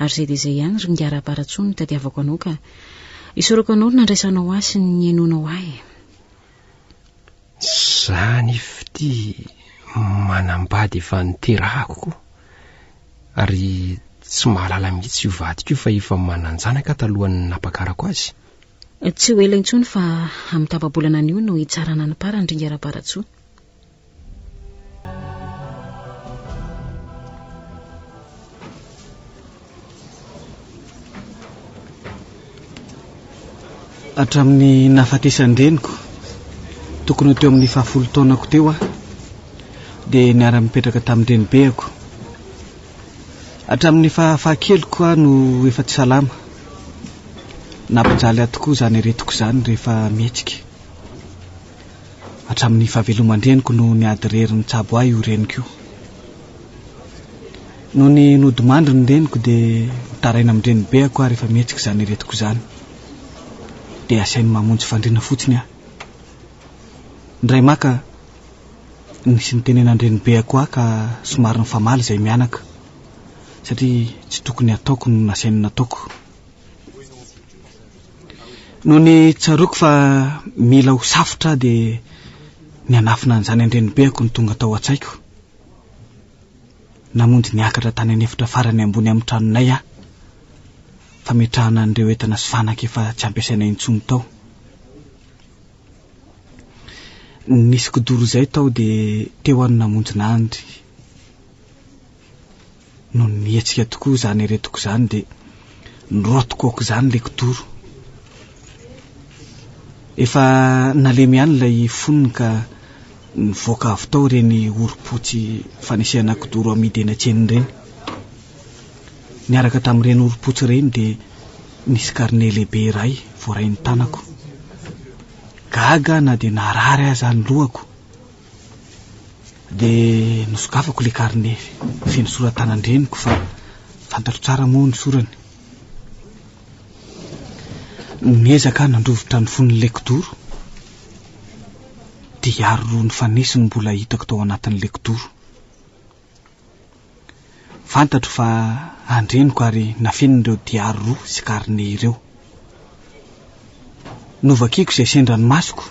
ary izay dia izay ihany ry Ingahy Raparatsoa no itadiavako anao ka isaorako anao ny nandraisanao ahy sy ny nihainoanao ahy e! Zany fty manambady efa niterahako ko ary tsy mahalala mihitsy io vadiko io fa efa mananjanaka talohan'ny napakarako azy. Tsy ho ela intsony fa amin'ny tapa-bolana anio no hitsarana ny parany ry Ngerabaratsoa. Hatramin'ny nahafatesan-dreniko, tokony ho teo amin'ny fahafolo taonako teo aho, dia niara-nipetraka tamin-drenibeko. Hatramin'ny fahafahakeliko aho no efa tsy salama. Nampijaly ahy tokoa izany aretiko izany rehefa mihetsika. Hatramin'ny fahaveloman-dreniko no niady irery nitsabo ahy io reniko io. Nony nodimandry ny reniko dia mitaraina amin-dreny be ako ary efa mihetsika izany iretiko izany dia asainy mamonjy fandriana fotsiny aho. Indray maka nisy nitenenan-dreny be ako ahy ka somary nifamaly izay mianaka satria tsy tokony hataoko no nasainy nataoko. Nony tsaroako fa mila ho safotra aho dia nianafina an'izany an-dreny be ako no tonga tao an-tsaiko. Namonjy niakatra tany an'efitra farany ambony amin'ny tranonay aho, fametrahana an'ireo entana sy fanaka efa tsy ampiasaina intsony tao. Nisy kidoro izay tao dia teo aho no namonjy nandry. no nihetsika tokoa izany eretoko izany dia nirotoko aok'izany ilay kidoro. Efa nalemy ihany ilay fonony ka nivoaka avy tao ireny orom-potsy fanesehana kidoro amidy eny an-tsena ireny. Niaraka tamin'ireny orom-potsy ireny dia nisy karne lehibe iray voarain'ny tanako. Gaga na dia narary aza ny lohako. Dia nosokafako ilay karne feno sora-tanan-dreniko fa fantatro tsara moa ny sorany. Niezaka aho nandrovitra ny fon'ilay kidoro, dia hiaro roa nifanesy no mbola hitako tao anatin'ilay kidoro. Fantatro fa andreniko ary nafeniny ireo diary roa sy carnet ireo. Novakiko izay sendra ny masoko,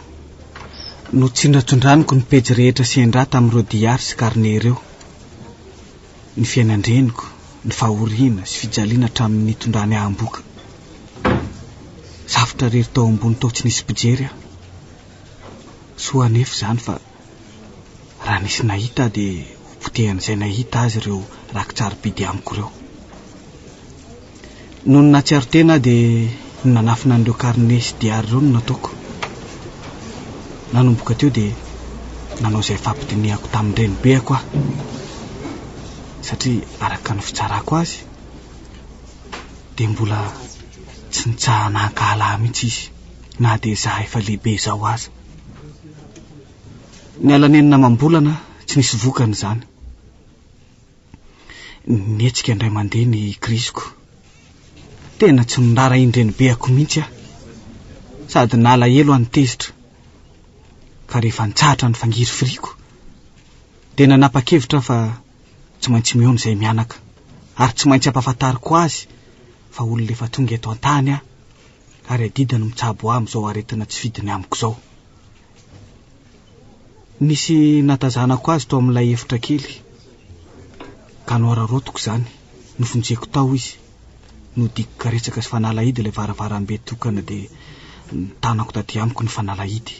notsindrantsondraniko ny pejy rehetra sendra tamin'ireo diary sy carnet ireo. Ny fiainan-dreniko, ny fahoriana sy fijaliana hatramin'ny nitondrany aham-boka. Savotra irery tao ambony tao tsy nisy mpijery aho. Soa anefa izany fa. Raha nisy nahita ahy dia hopotehan'izay nahita azy ireo rakitsarobidy amiko ireo. Nony nahatsiaro tena aho dia ny nanafina an'ireo karne sy diary ireo no nataoko. Nanomboka teo dia nanao izay fampidinihako tamin-drenibeko aho satria araka ny fitsarako azy dia mbola tsy nitsahana hankahala ahy mihitsy izy na dia izaho efa lehibe izao aza. Niala nenina amam-bolana tsy nisy vokany izany. Nihetsika indray mandeha ny kiriziko. Tena tsy nirara indrenibeako mihitsy aho. Sady nalahelo aho ny tezitra. Fa rehefa nitsahatra ny fangirifiriako, dia nanapa-kevitra aho fa tsy maintsy mihaona izay mianaka, ary tsy maintsy ampahafantariko azy fa olona efa tonga eto an-tany aho, ary adidiny mitsabo ahy amin'izao aretina tsy fidiny amiko izao. Nisy natazanako azy tao amin'ilay efitra kely, ka nohararaotiko izany, nofon-jeko tao izy. Nodiko karetsaka sy fanalahidy ilay varavarambe tokana dia nitanako taty amiko ny fanalahidy.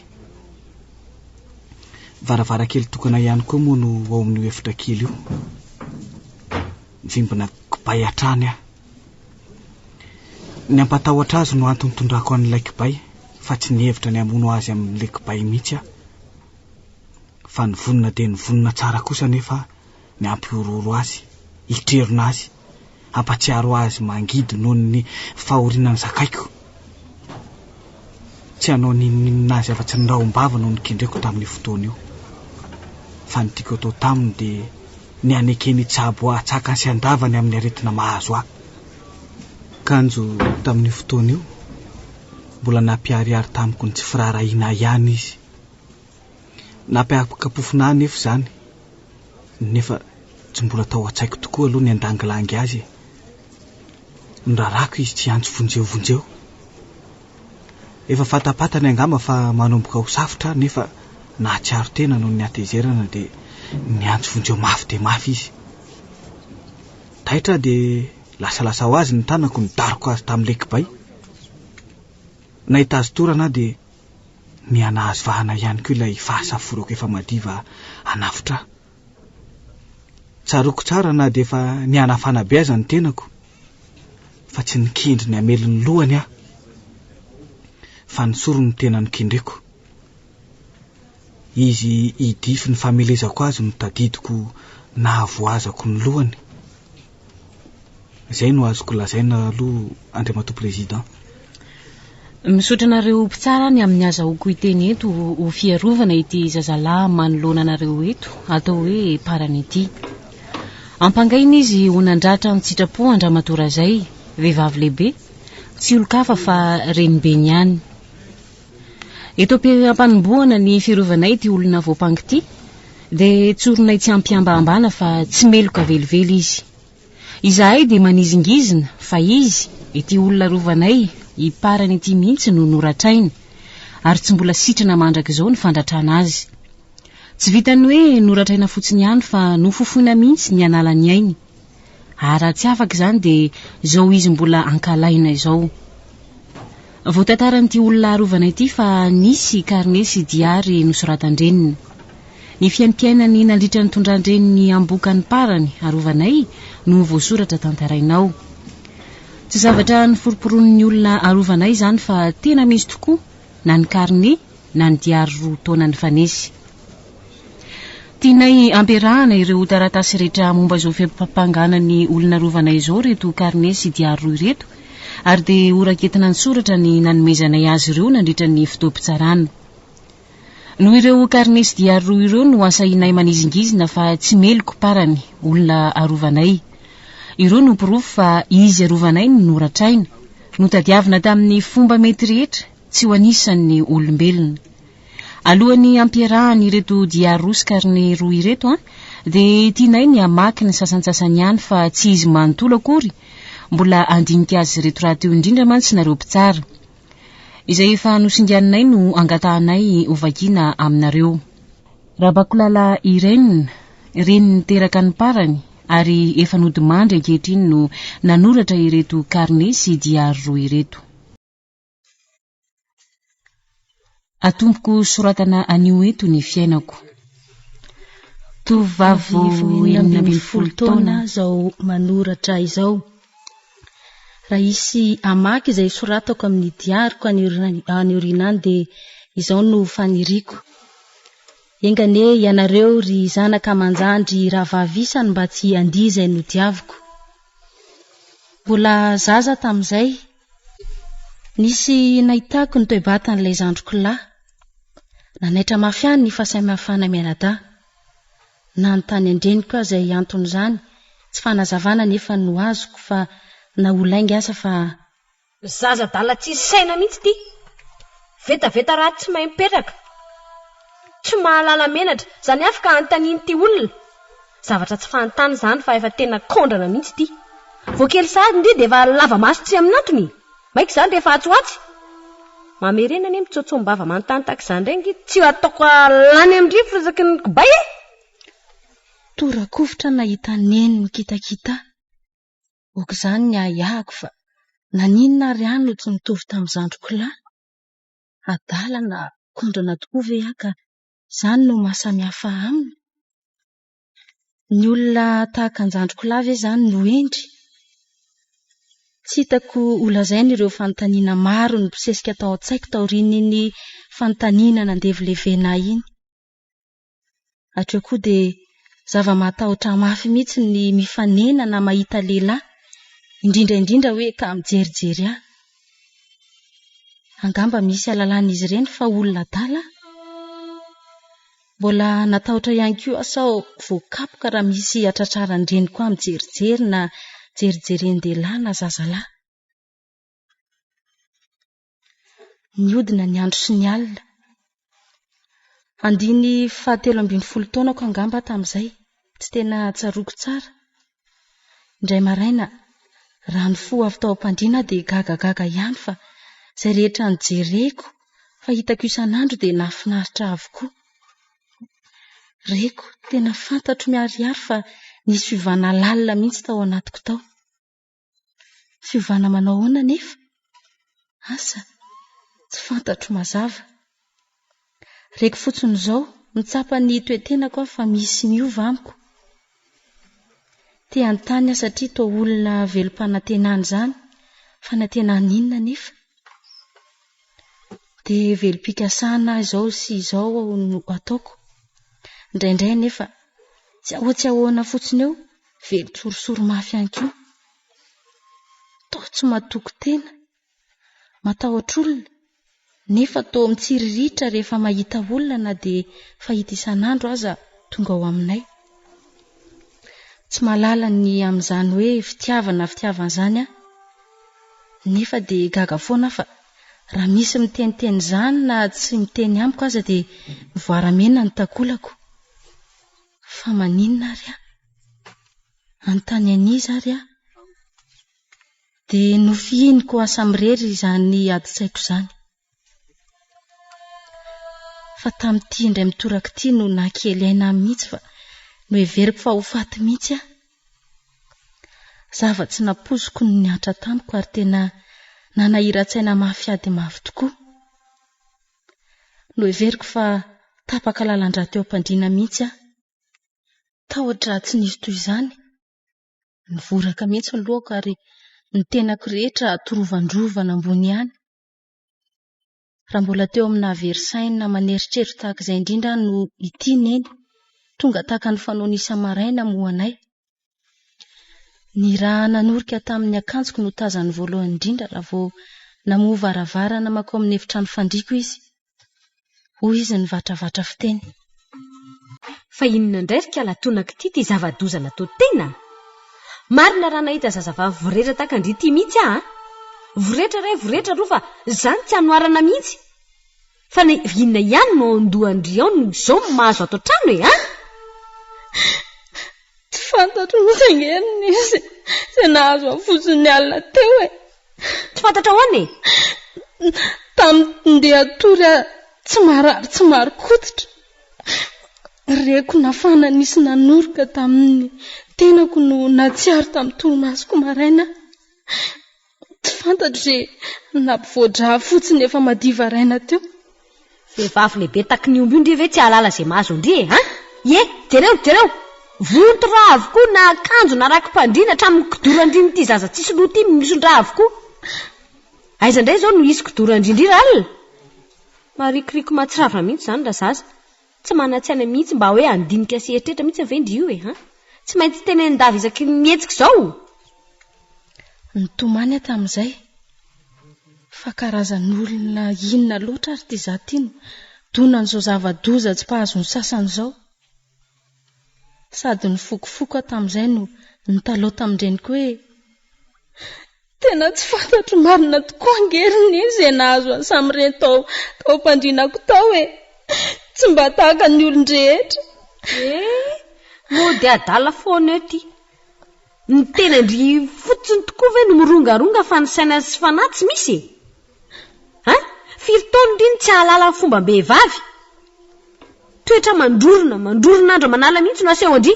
Varavarakely tokana ihany koa moa no ao amin'io efitra kely io. Mivimbina kibay hatrany aho. Ny hampatahotra azy no antony tondrako an'ilay kibay fa tsy nihevitra ny hamono azy amin'ilay kibay mihitsy aho. Fa nivonona dia nivonona tsara kosa anefa ny hampihorohoro azy, hitrerona azy, hampatsiaro azy mangidy noho ny fahoriana nizakaiko. Tsy hanao n'inon'inona azy afa-tsy ny rahom-bava no nikendreko tamin'io fotoana io. Fa ny tiako atao taminy dia ny hanekeny hitsabo ahy an-tsakany sy an-davany amin'ny aretina mahazo ahy. Kanjo tamin'io fotoana io, mbola nampiharihary tamiko ny tsy firaharahiana ahy ihany izy. Nampihampikapofona ahy anefa izany, nefa tsy mbola tao an-tsaiko tokoa aloha ny handangilangy azy e. Ny raharahako izy tsy hiantso vonjeo vonjeo. Efa fantapantany angamba fa manomboka ho safotra aho nefa nahatsiaro tena noho ny hatezerana dia niantso vonjeo mafy dia mafy izy. Taitra aho dia lasalasa ho azy ny tanako nidaroka azy tamin'ny lekibay. Nahita azy torana aho dia niha-nahazo vahana ihany koa ilay fahasaforako efa madiva hanafotra ahy. Tsaroako tsara na dia efa nihanafana be aza ny tenako fa tsy nikendry ny hamely ny lohany aho fa ny sorony no tena nokendreko. Izy hidify ny famelezako azy no tadidiko nahavoazako ny lohany. Izay no azoko lazaina aloha Andriamatoa Président. Misaotra anareo mpitsara any amin'ny azahoako hiteny eto ho fiarovana ity zazalahy manoloana anareo eto atao hoe Parany ity. Ampangaina izy ho nandratra an-tsitrapo an-dramatoa Razay, vehivavy lehibe, tsy olon-kafa fa renibeny ihany. Eto am-panombohana ny fiarovanay ity olona voampangy ity, dia tsorinay tsy am-pihambahambana fa tsy meloka velively izy. Izahay dia manizingizina fa izy, ity olona rovanay hiparany ity mihitsy no noratrainy, ary tsy mbola sitrana mandrakizao ny fandratrana azy. Tsy vitan'ny hoe noratraina fotsiny ihany fa nofofoina mihitsy ny hanala ny ainy. Ah raha tsy afaka izany dia izao izy mbola ankalaina izao. Vao tantaran'ity olona arovana ity fa nisy karne sy diary nosoratan-dreniny. Ny fiaimpiainany nandritra ny tondran-dreniny ambokany parany arovanay no voasoratra tantaraina ao. Tsy zavatra noforomporonin'ny olona arovanay izany fa tena misy tokoa na ny karne na ny diary roa taona nifanesy. Tianay ampiarahana ireo taratasy rehetra momba izao fiampangana ny olona arovana izao ireto karne sy diary roa ireto, ary dia horaketina an-tsoratra ny nanomezanay azy ireo nandritra ny fotoam-pitsarana. Noho ireo karne sy diary roa ireo no asahinay manizingizina fa tsy meloky parany olona arovanay. Ireo no porofo fa izy arovanay no noratraina, notadiavina tamin'ny fomba mety rehetra, tsy ho anisan'ny olombelona. Alohan'ny hampierahany ireto diary roa sy karne roa ireto an, dia tianay ny hamaky ny sasantsasany ihany fa tsy izy manontolo akory, mbola handinika azy ireto rahateo indrindra mantsy nareo mpitsara. Izay efa nosinganinay no angatahanay hovakiana aminareo. Rabakolala Irène, reny niteraka ny parany ary efa nodimandry ankehitriny no nanoratra ireto karne sy diary roa ireto. Atompoko soratana anio eto ny fiainako. Tovovavy enina ambin'ny folo taona izao manoratra izao. Raha hisy hamaky izay soratako amin'ny diariko any aoriana any dia izao no faniriako. Enga anie ianareo ry zanaka aman-jandry rahavavy isany mba tsy handia izay nodiaviko. Mbola zaza tamin'izay. Nisy nahitako ny toe-batan'ilay zandriko lahy. Nanaitra mafy ahy ny fahasamihafana mianadahy. Nanontany an-dreniko aho izay anton'izany, tsy fanazavana anefa no azoko fa na ho lainga aza fa. Zaza adala tsisy saina mihitsy ity. Vetaveta ratsy tsy mahay mipetraka. Tsy mahalala menatra. Izany avy ka anontaniny ity olona. Zavatra tsy fahantany izany fa efa tena kaondrana mihitsy ity. Vao kely sahady ndry dia efa lava maso tsy amin'antony e! Maika izany rehefa atsy ho atsy? Mamerena anie mitsoatsoam-bava manontany tahaka izany indray ange tsy ataoko lany amin-drivotra isaky ny kibay e! Tora-kovitra aho nahita neny mikitakita. Ok izany ny ahiahiko fa naninona ary aho no tsy mitovy tamin'ny zandriko lahy? Adala na kaondrana tokoa ve aho ka Izany no maha samy hafa aminy? Ny olona tahaka an-jandriko lahy ve izany no hendry? Tsy hitako holazaina ireo fanontaniana maro nibosesika tao an-tsaiko taorian'iny fanontaniana nandevilevena ahy iny. Hatreo koa dia zava-mahatahotra ahy mafy mihitsy ny mifanena na mahita lehilahy, indrindra indrindra hoe ka mijerijery ahy. Angamba misy alalan'izy ireny fa olona adala aho. Mbola natahotra ihany koa aho sao voakapoka raha misy hatratraran-dreniko ahy mijerijery na jerijerin-dehilahy na zazalahy. Nihodina ny andro sy ny alina, Andiny fahatelo ambin'ny folo taonako angamba aho tamin'izay, tsy tena tsaroako tsara. Indray maraina, raha nifoha avy tao am-pandriana aho dia gagagaga ihany fa izay rehetra nojereko fa hitako isan'andro dia nahafinaritra ahy avokoa. Reko, tena fantatro miharihary fa nisy fiovana lalina mihitsy tao anatiko tao. Fiovana manao ahoana anefa? Asa, tsy fantatro mazava. Reko fotsiny izao, mitsapa ny toe-tenako aho fa misy miova amiko. Te-hanontany aho satria toa olona velom-panantenana izany. Fanantenana inona anefa? Dia velom-pikasana aho izao sy izao aho no ataoko. Indraindray anefa, tsy ahoa tsy ahoana fotsiny eo, Velon-tsorisory mafy ihany koa. Toa tsy matoky tena, matahotra olona, nefa toa mitsiriritra rehefa mahita olona na dia fahita isan'andro aza tonga ao aminay. Tsy mahalala ny amin'izany hoe fitiavana fitiavana izany aho, nefa dia gaga foana aho fa raha misy miteniteny izany na tsy miteny amiko aza dia mivoaramena ny takolako. Fa maninona ary aho? Hanontany an'iza ary aho? Dia nofihiniko asa mirery izany adin-tsaiko izany. Fa tamin'ity indray mitoraka ity no nakely aina ahy mihitsy fa noheveriko fa ho faty mihitsy aho. Zava-tsy nampoiziko no nihatra tamiko ary tena nanahiran-tsaina mafy ady mafy tokoa. Noheveriko fa tapaka lalan-drà teo am-pandriana mihitsy aho. Tahotra tsy nisy toy izany. Nivoraka mihitsy ny lohako ary ny tenako rehetra torovandrovana ambony ihany. Raha mbola teo amin'ny nahavery saina aman' eritreritro tahaka izay indrindra aho no ity neny, tonga tahaka ny fanaony isa-maraina moa anay. Ny rà nanorika tamin'ny akanjoko no tazany voalohany indrindra raha vao namoha varavarana mankao amin'ny efitrano fandriako izy. Hoy izy nivatravatra fiteny. Fa inona indray ry Kalatona k'ity ity zava-doza natao tena? Marina raha nahita zazavavy voretra tahaka an-dry ity mihitsy aho a! Voretra iray voretra roa fa izany tsy anoharana mihitsy! Fa na inona ihany no ao an-dohan-dry ao no izao no mahazo ato an-trano e! An! Tsy fantatro ny tsengeriny izy izay nahazo ahy fotsiny ny alina teo e! Tsy fantatra ahoana e? Tamin'ny ndeha hatory aho tsy marary tsy marin-koditra, reko nafana nisy nanoroka tamin'ny tenako no nahatsiaro tamin'ny torimasoko maraina aho. Tsy fantatro re na mpivoa-dra fotsiny efa madiva raina teo. Vehivavy lehibe taky ny omby io ndry ve tsy hahalala izay mahazo an-dry e! An! Ie! Jereo! Jereo! Vonto-dra avokoa na akanjo na raki-pan-dry na hatramin'ny kidoran-dry amin'ity zaza tsisy loha ity mison-dra avokoa. Aiza indray izao no hisy kidoran-dry ndry r'alina? Marikoriko mahatsiravina mihitsy izany razaza. Tsy manan-tsaina mihitsy mba hoe handinika sy hieritreritra mihitsy ve ndry io e? An! Tsy maintsy tenenin-dava isaky ny mihetsika izao! Nitomany aho tamin'izay fa karazan'olona inona loatra ary ity izaho ity no donan'izao zava-doza tsy mpahazo ny sasany izao. Sady nifokofoko aho tamin'izay no nitalaho tamin-dreniko hoe. Tena tsy fantatro marina tokoa ange ry Ninie izay nahazo an'i Samiren tao tao am-pandrinako tao e! Tsy mba tahaka ny olon-drehetra. Eh! Mody adala foana eo ity. Ny tenan-dry fotsiny tokoa ve no mirongaronga fa ny saina sy fanahy tsy misy e! Hein? Firy taona ry no tsy hahalala ny fombam-behivavy? Toetra mandrorona, mandrorona andra manala mihitsy no asehon-dry.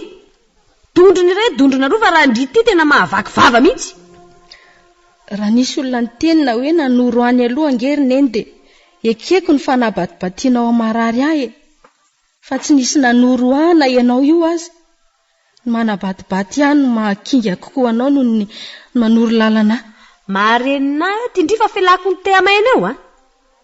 Dondrona irery dondrona roa fa raha ndry ity tena mahavaky vava mihitsy. Raha nisy olona niteny na hoe nanoro any aloha ange ry neny dia ekeko ny fanabatibatianao amin'ny marary ahy e! Fa tsy nisy nanoro ahy na ianao io aza! Ny manabatibaty ahy no mahakinga kokoa anao noho ny manoro lalana ahy. Maharenina ahy aty ndry fa felako ny te-hamaheno eo a!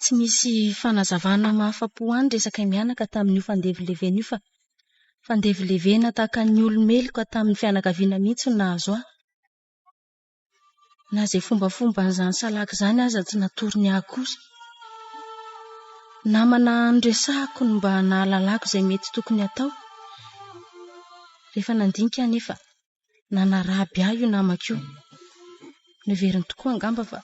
tsy misy fanazavana mahafa-po any resakay mianaka tamin'io fandevilevena io fa fandevilevena tahaka ny olo-meloka tamin'ny fianakaviana mihitsy no nahazo ahy. Na izay fombafomban'izany salaka izany aza tsy natorony ahy akory. Namana noresahiko ny mba nahalalako izay mety tokony hatao, rehefa nandinika aho anefa, nanaraby ahy io namako io. Noheveriny tokoa angamba fa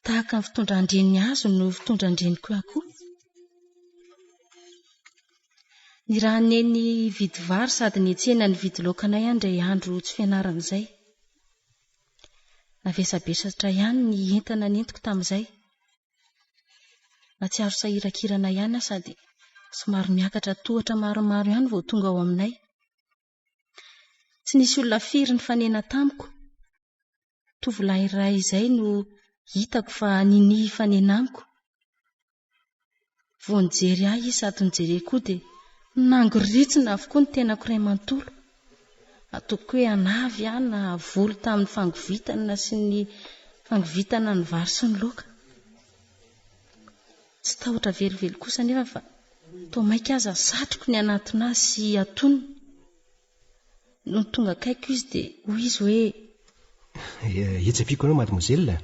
tahaka ny fitondran-dreniny azy no fitondran-dreniko ahy koa. Nirahan'i Neny hividy vary sady nihetsehana nividy laoka anay aho indray andro tsy fianarana izay. Navesabesatra ihany ny entana nentiko tamin'izay. Natsiaro sahiran-kirana ihany aho sady somary miakatra tohatra maromaro ihany vao tonga ao aminay. Tsy nisy olona firy nifanena tamiko. Tovolahy iray izay no hitako fa ninia hifanenanko. Vao nijery ahy izy sady nijereko koa dia nangoritsina avokoa ny tenako iray manontolo. Ataoko hoe anavy aho na voly tamin'ny fangovitana sy ny fangovitana ny vary sy ny loaka. Tsy tahotra velively kosa anefa fa toa mainka aza satriko ny hanatona azy sy hatonina. Nony tonga akaiko izy dia hoy izy hoe. Hetsepiko anao mademoiselle a!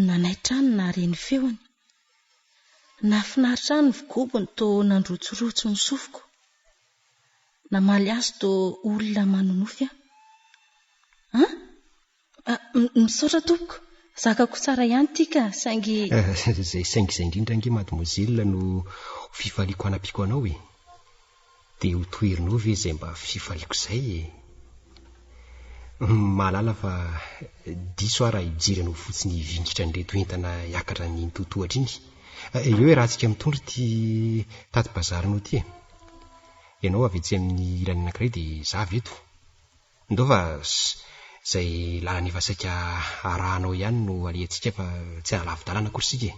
Nanaitra ahy ny nahare ny feony. Nahafinaritra ahy ny vigobony toa nandrotsirotsy ny sofiko. Namaly azy toa olona manonofy aho. An! Misaotra tompoko. Zakako tsara ihany ity ka, saingy. Izay saingy izay indrindra ange mademoiselle no ho fifaliako hanampiako anao e. Dia ho toherinao ve izay mba fifaliako izay e? Mahalala fa diso aho raha hijery anao fotsiny hivingitra an'ireto entana hiakatra ny totohatra iny. Eo e raha tsika mitondra ity tati-bazarinao ity e. Ianao avy etsy amin'ny ilany anankiray dia izaho avy eto. Ndova Zay làlana efa saika arahanao ihany no alehantsika fa tsy ara-lavi-dalana akory isika e!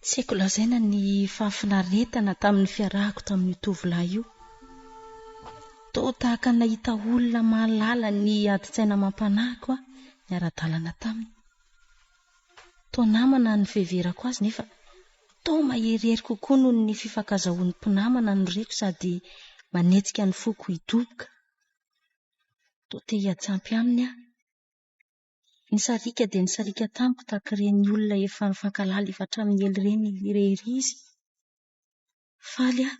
Tsy haiko lazaina ny fahafinaretana tamin'ny fiarahako tamin'io tovolahy io. Toa tahaka ny nahita olona mahalala ny adin-tsaina amam-panahiko aho niara-dalana taminy. Toa namana ny fiheverako azy nefa toa maherihery kokoa noho ny fifankazahoan'ny mpinamana no reko sady manetsika ny foko hidoboka. Toa te hiantsampy aminy aho. Ny sariaka dia nisariaka tamiko tahaka ireny olona efa nifankahalala efa hatramin'ny ela ireny irery izy. Faly aho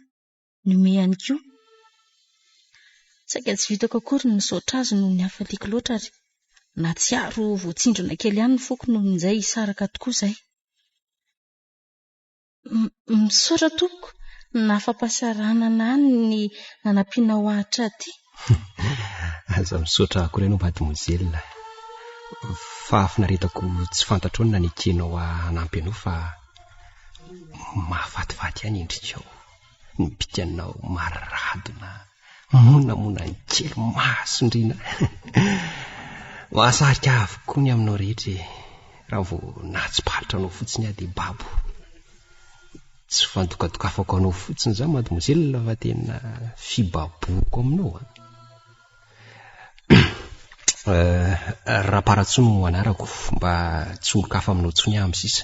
nomehany koa. Saika tsy vitako akory ny misaotra azy noho ny hafaliako loatra ary nahatsiaro ho voatsindrona kely ihany ny foko noho injay hisaraka tokoa izay. Misaotra tompoko nahafampahasaranana ahy ny nanampianao ahy hatraty. Aza misaotra akory ianao mademoiselle. Fahafinaretako tsy fantatrao ny nanekenao ahy hanampy anao fa mahafatifaty ahy ny endrikao. ny bikanao maradona monamona ny kely mahasondriana mahasarika avokoa ny aminao rehetra e raha vao nahatsiparitra anao fotsiny aho dia babo tsy fandokadokafako anao fotsiny za mademoiselle fa tena fibaboko aminao a euh, raha paratsony no anarako mba tsy olo-kafa aminao tsony aho amin'ny sisa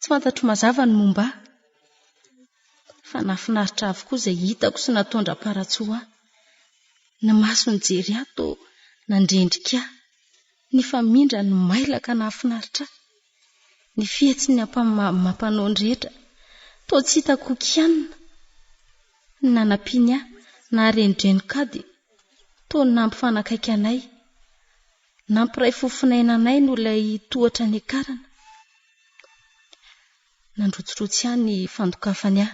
Tsy fantatro mazava ny momba ahy, fa nahafinaritra ahy avokoa izay hitako sy nataony Raparatsiho ahy. Ny maso nijery ahy toa nandrendrika ahy, ny famindra ny mailaka nahafinaritra ahy, ny fihetsiny amam-panao ny rehetra toa tsy hitako ho kianina, ny nanampiany ahy naha renidrenok'ady toa nampifanakaiky anay, Nampiray fofon'aina anay noho ilay tohatra niakarana. Nandrotsirotsy ahy ny fandokafany ahy.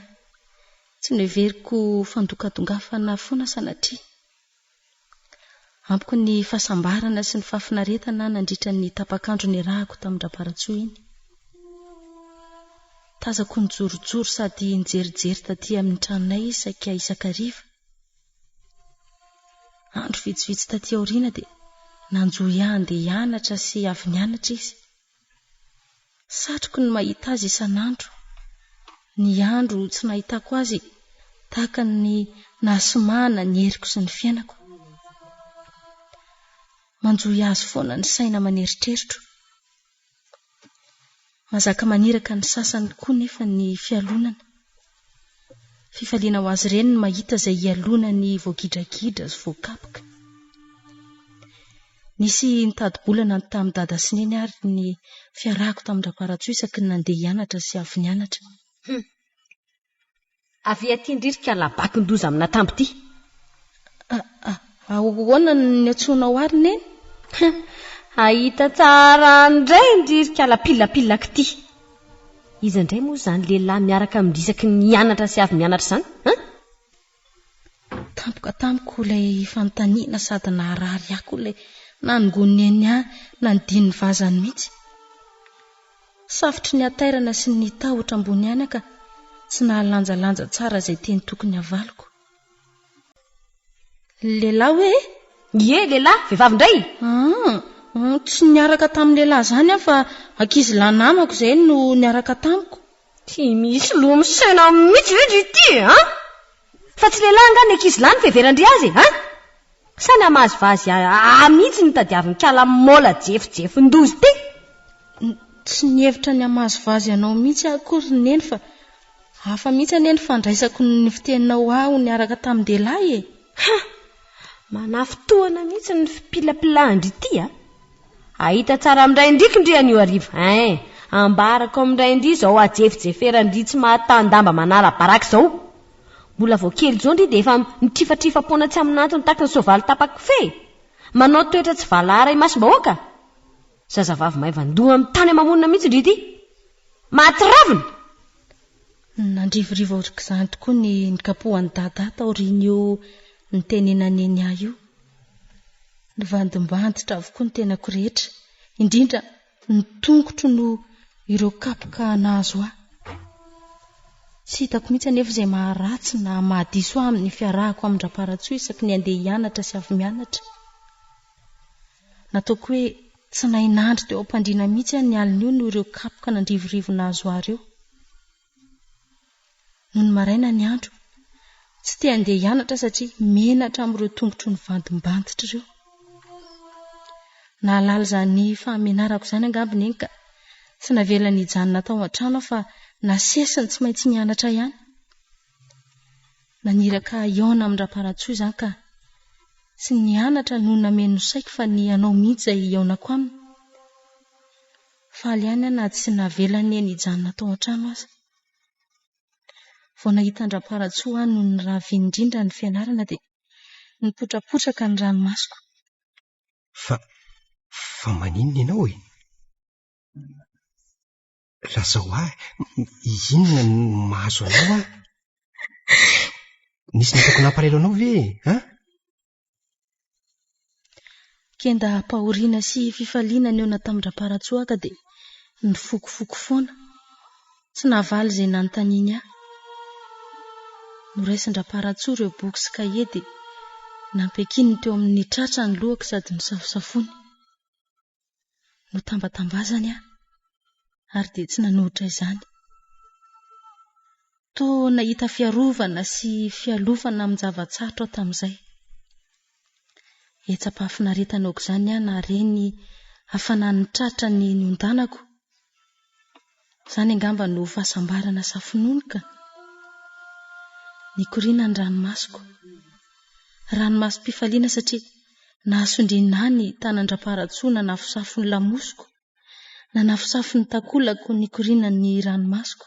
Tsy noheveriko ho fandokadongafana foana sanatria. Amiko ny fahasambarana sy ny fahafinaretana nandritra ny tapak'andro niarahako tamin-dRabaratsoa iny. Tazako nijorojoro sady nijerijery taty amin'ny tranonay izy saika isan-kariva. Andro vitsivitsy taty aoriana dia nanjo ahy handeha hianatra sy avy nianatra izy. Satriko ny mahita azy isan'andro. Ny andro tsy nahitako azy tahaka ny nahasimahana ny heriko sy ny fiainako. Manjohy azy foana ny saina aman-eritreritro. Mazaka maniraka ny sasany koa nefa ny fialonana. Fifaliana ho azy ireny ny mahita izay ialonany voagidragidra sy voakapoka. Nisy nitadi-bolana tamin'i Dada sy Neny ary ny fiarahako tamin-dRaparatsoa isaky ny nandeha hianatra sy avy nianatra. Humm. Avy aty indrindra ka labakin-doza amina tambo ity. Ahoana no niantsoanao ary Neny? Hahita tsara any indray indrindra ka lapilapilak ity. Iza indray moa izany lehilahy miaraka amin-dry isaky ny hianatra sy avy mianatra izany? Tampoka tamiko ilay fanontaniana sady naharary ahy koa ilay nanongoan'i Neny ahy nanadino ny vazany mihitsy. Safotry ny hatairana sy ny tahotra ambony aina ka tsy nahalanjalanja tsara izay teny tokony havaliko. Lehilahy hoe e? Ie, lehilahy, vehivavy indray? Aa, tsy niaraka tamin'ny lehilahy izany aho fa ankizilahy namako izay no niaraka tamiko. Tsy misy loha misaina mihitsy ve ndry ity e an! Fa tsy lehilahy angaha ny ankizy lahy no fiheveran-dry azy e an! Sa ny hamazivazy ahy mihitsy no tadiavin-kala maola jefojefon-doza ity? Tsy nihevitra ny hamazivazy anao mihitsy aho akory ry Neny fa hafa mihitsy anie ny fandraisako ny fiteninao ahy ho niaraka tamin-dehilahy e! Ha! Manafy tohana mihitsy ny fipilapilan-dry ity a! Ahita tsara amin-dray ndriky ndry an'io hariva ein! Ambarako amin-dray ndry izao hajefijeferan-dry tsy mahatan-damba manara-baraka izao! Mbola vao kely izao ndry dia efa mitrifatrifa-poana tsy amin'antony taky ny soavaly tapa-kofehy! Manao toetra tsy valahara imasom-bahoaka! Zazavavy maivan-doha amin'ny tany ama-monina mihitsy ndry ity! Mahatsiravina! Nandrivorivo aok'izany tokoa ny nikapohan'i Dadah taorian'io nitenenan'i Enya io. Nivandimbandotra avokoa ny tenako rehetra, indrindra ny tongotro noho ireo kapoka nahazo ahy. Tsy hitako mihitsy anefa izay maharatsy na mahadiso ahy amin'ny fiarahako amin-dRaparatsoa isaky ny handeha hianatra sy avy mianatra. Nataoko hoe tsy nahay nandry teo am-pandriana mihitsy aho ny alin'io noho ireo kapoka nandrivorivo nahazo ahy ireo. Nony maraina ny andro, tsy te handeha hianatra satria menatra amin'ireo tongotro nivadimbantotra ireo. Nahalala izany fahamenarako izany angamba i Neny ka tsy navelany hijanona tao an-trano aho fa nasesiny tsy maintsy nianatra ihany. Naniraka hihaona amin-dRaparantsoa izany ka tsy ny hianatra no nameno saiko fa ny ianao mihitsy izay hihaonako aminy. Faly ihany aho na tsy navelany eny hijanona tao an-trano aza. Vao nahita an-dRaparantsoa aho no nirava indrindra ny fianarana dia nipotrapotraka ny ranomasoko. Fa, fa maninona ianao e? Lazao ahy, inona no mahazo anao ahy? Nisy nataoko nampalahelo anao ve e? Ha? Kendaham-pahoriana sy fifaliana nihaona tamin-dRamparatsoaka dia nifokofoko foana. Tsy nahavaly izay nanontaniany ahy. Noraisin-dRamparatsoa ireo boky sy kahie dia nampiakininy teo amin'ny tratrany lohako sady nosafosafony. Notambatambazany aho, ary dia tsy nanohitra izany. Toa nahita fiarovana sy fialofana amin'ny zava-tsarotra aho tamin'izay. Hetsa-pahafinaretana aok'izany aho nahare ny hafanan'ny tratra ny niondanako, Izany angamba no fahasambarana safonono ka! Nikoriana ny ranomasoko. Ranomasom-pifaliana satria nahasondriana ahy ny tanan-dRampaharatsoa nanafosafo ny lamosiko, nanafosafo ny takolako nikoriana ny ranomasoko.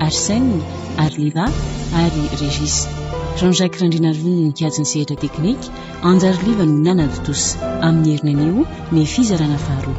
Arsène, Arlira ary Régis. Jean-Jacques Randrianarivony no nikajy ny sehatra teknika, Anjary Liva no nanatontosa. Amin'ny herinay anio ny fizarana faharoa.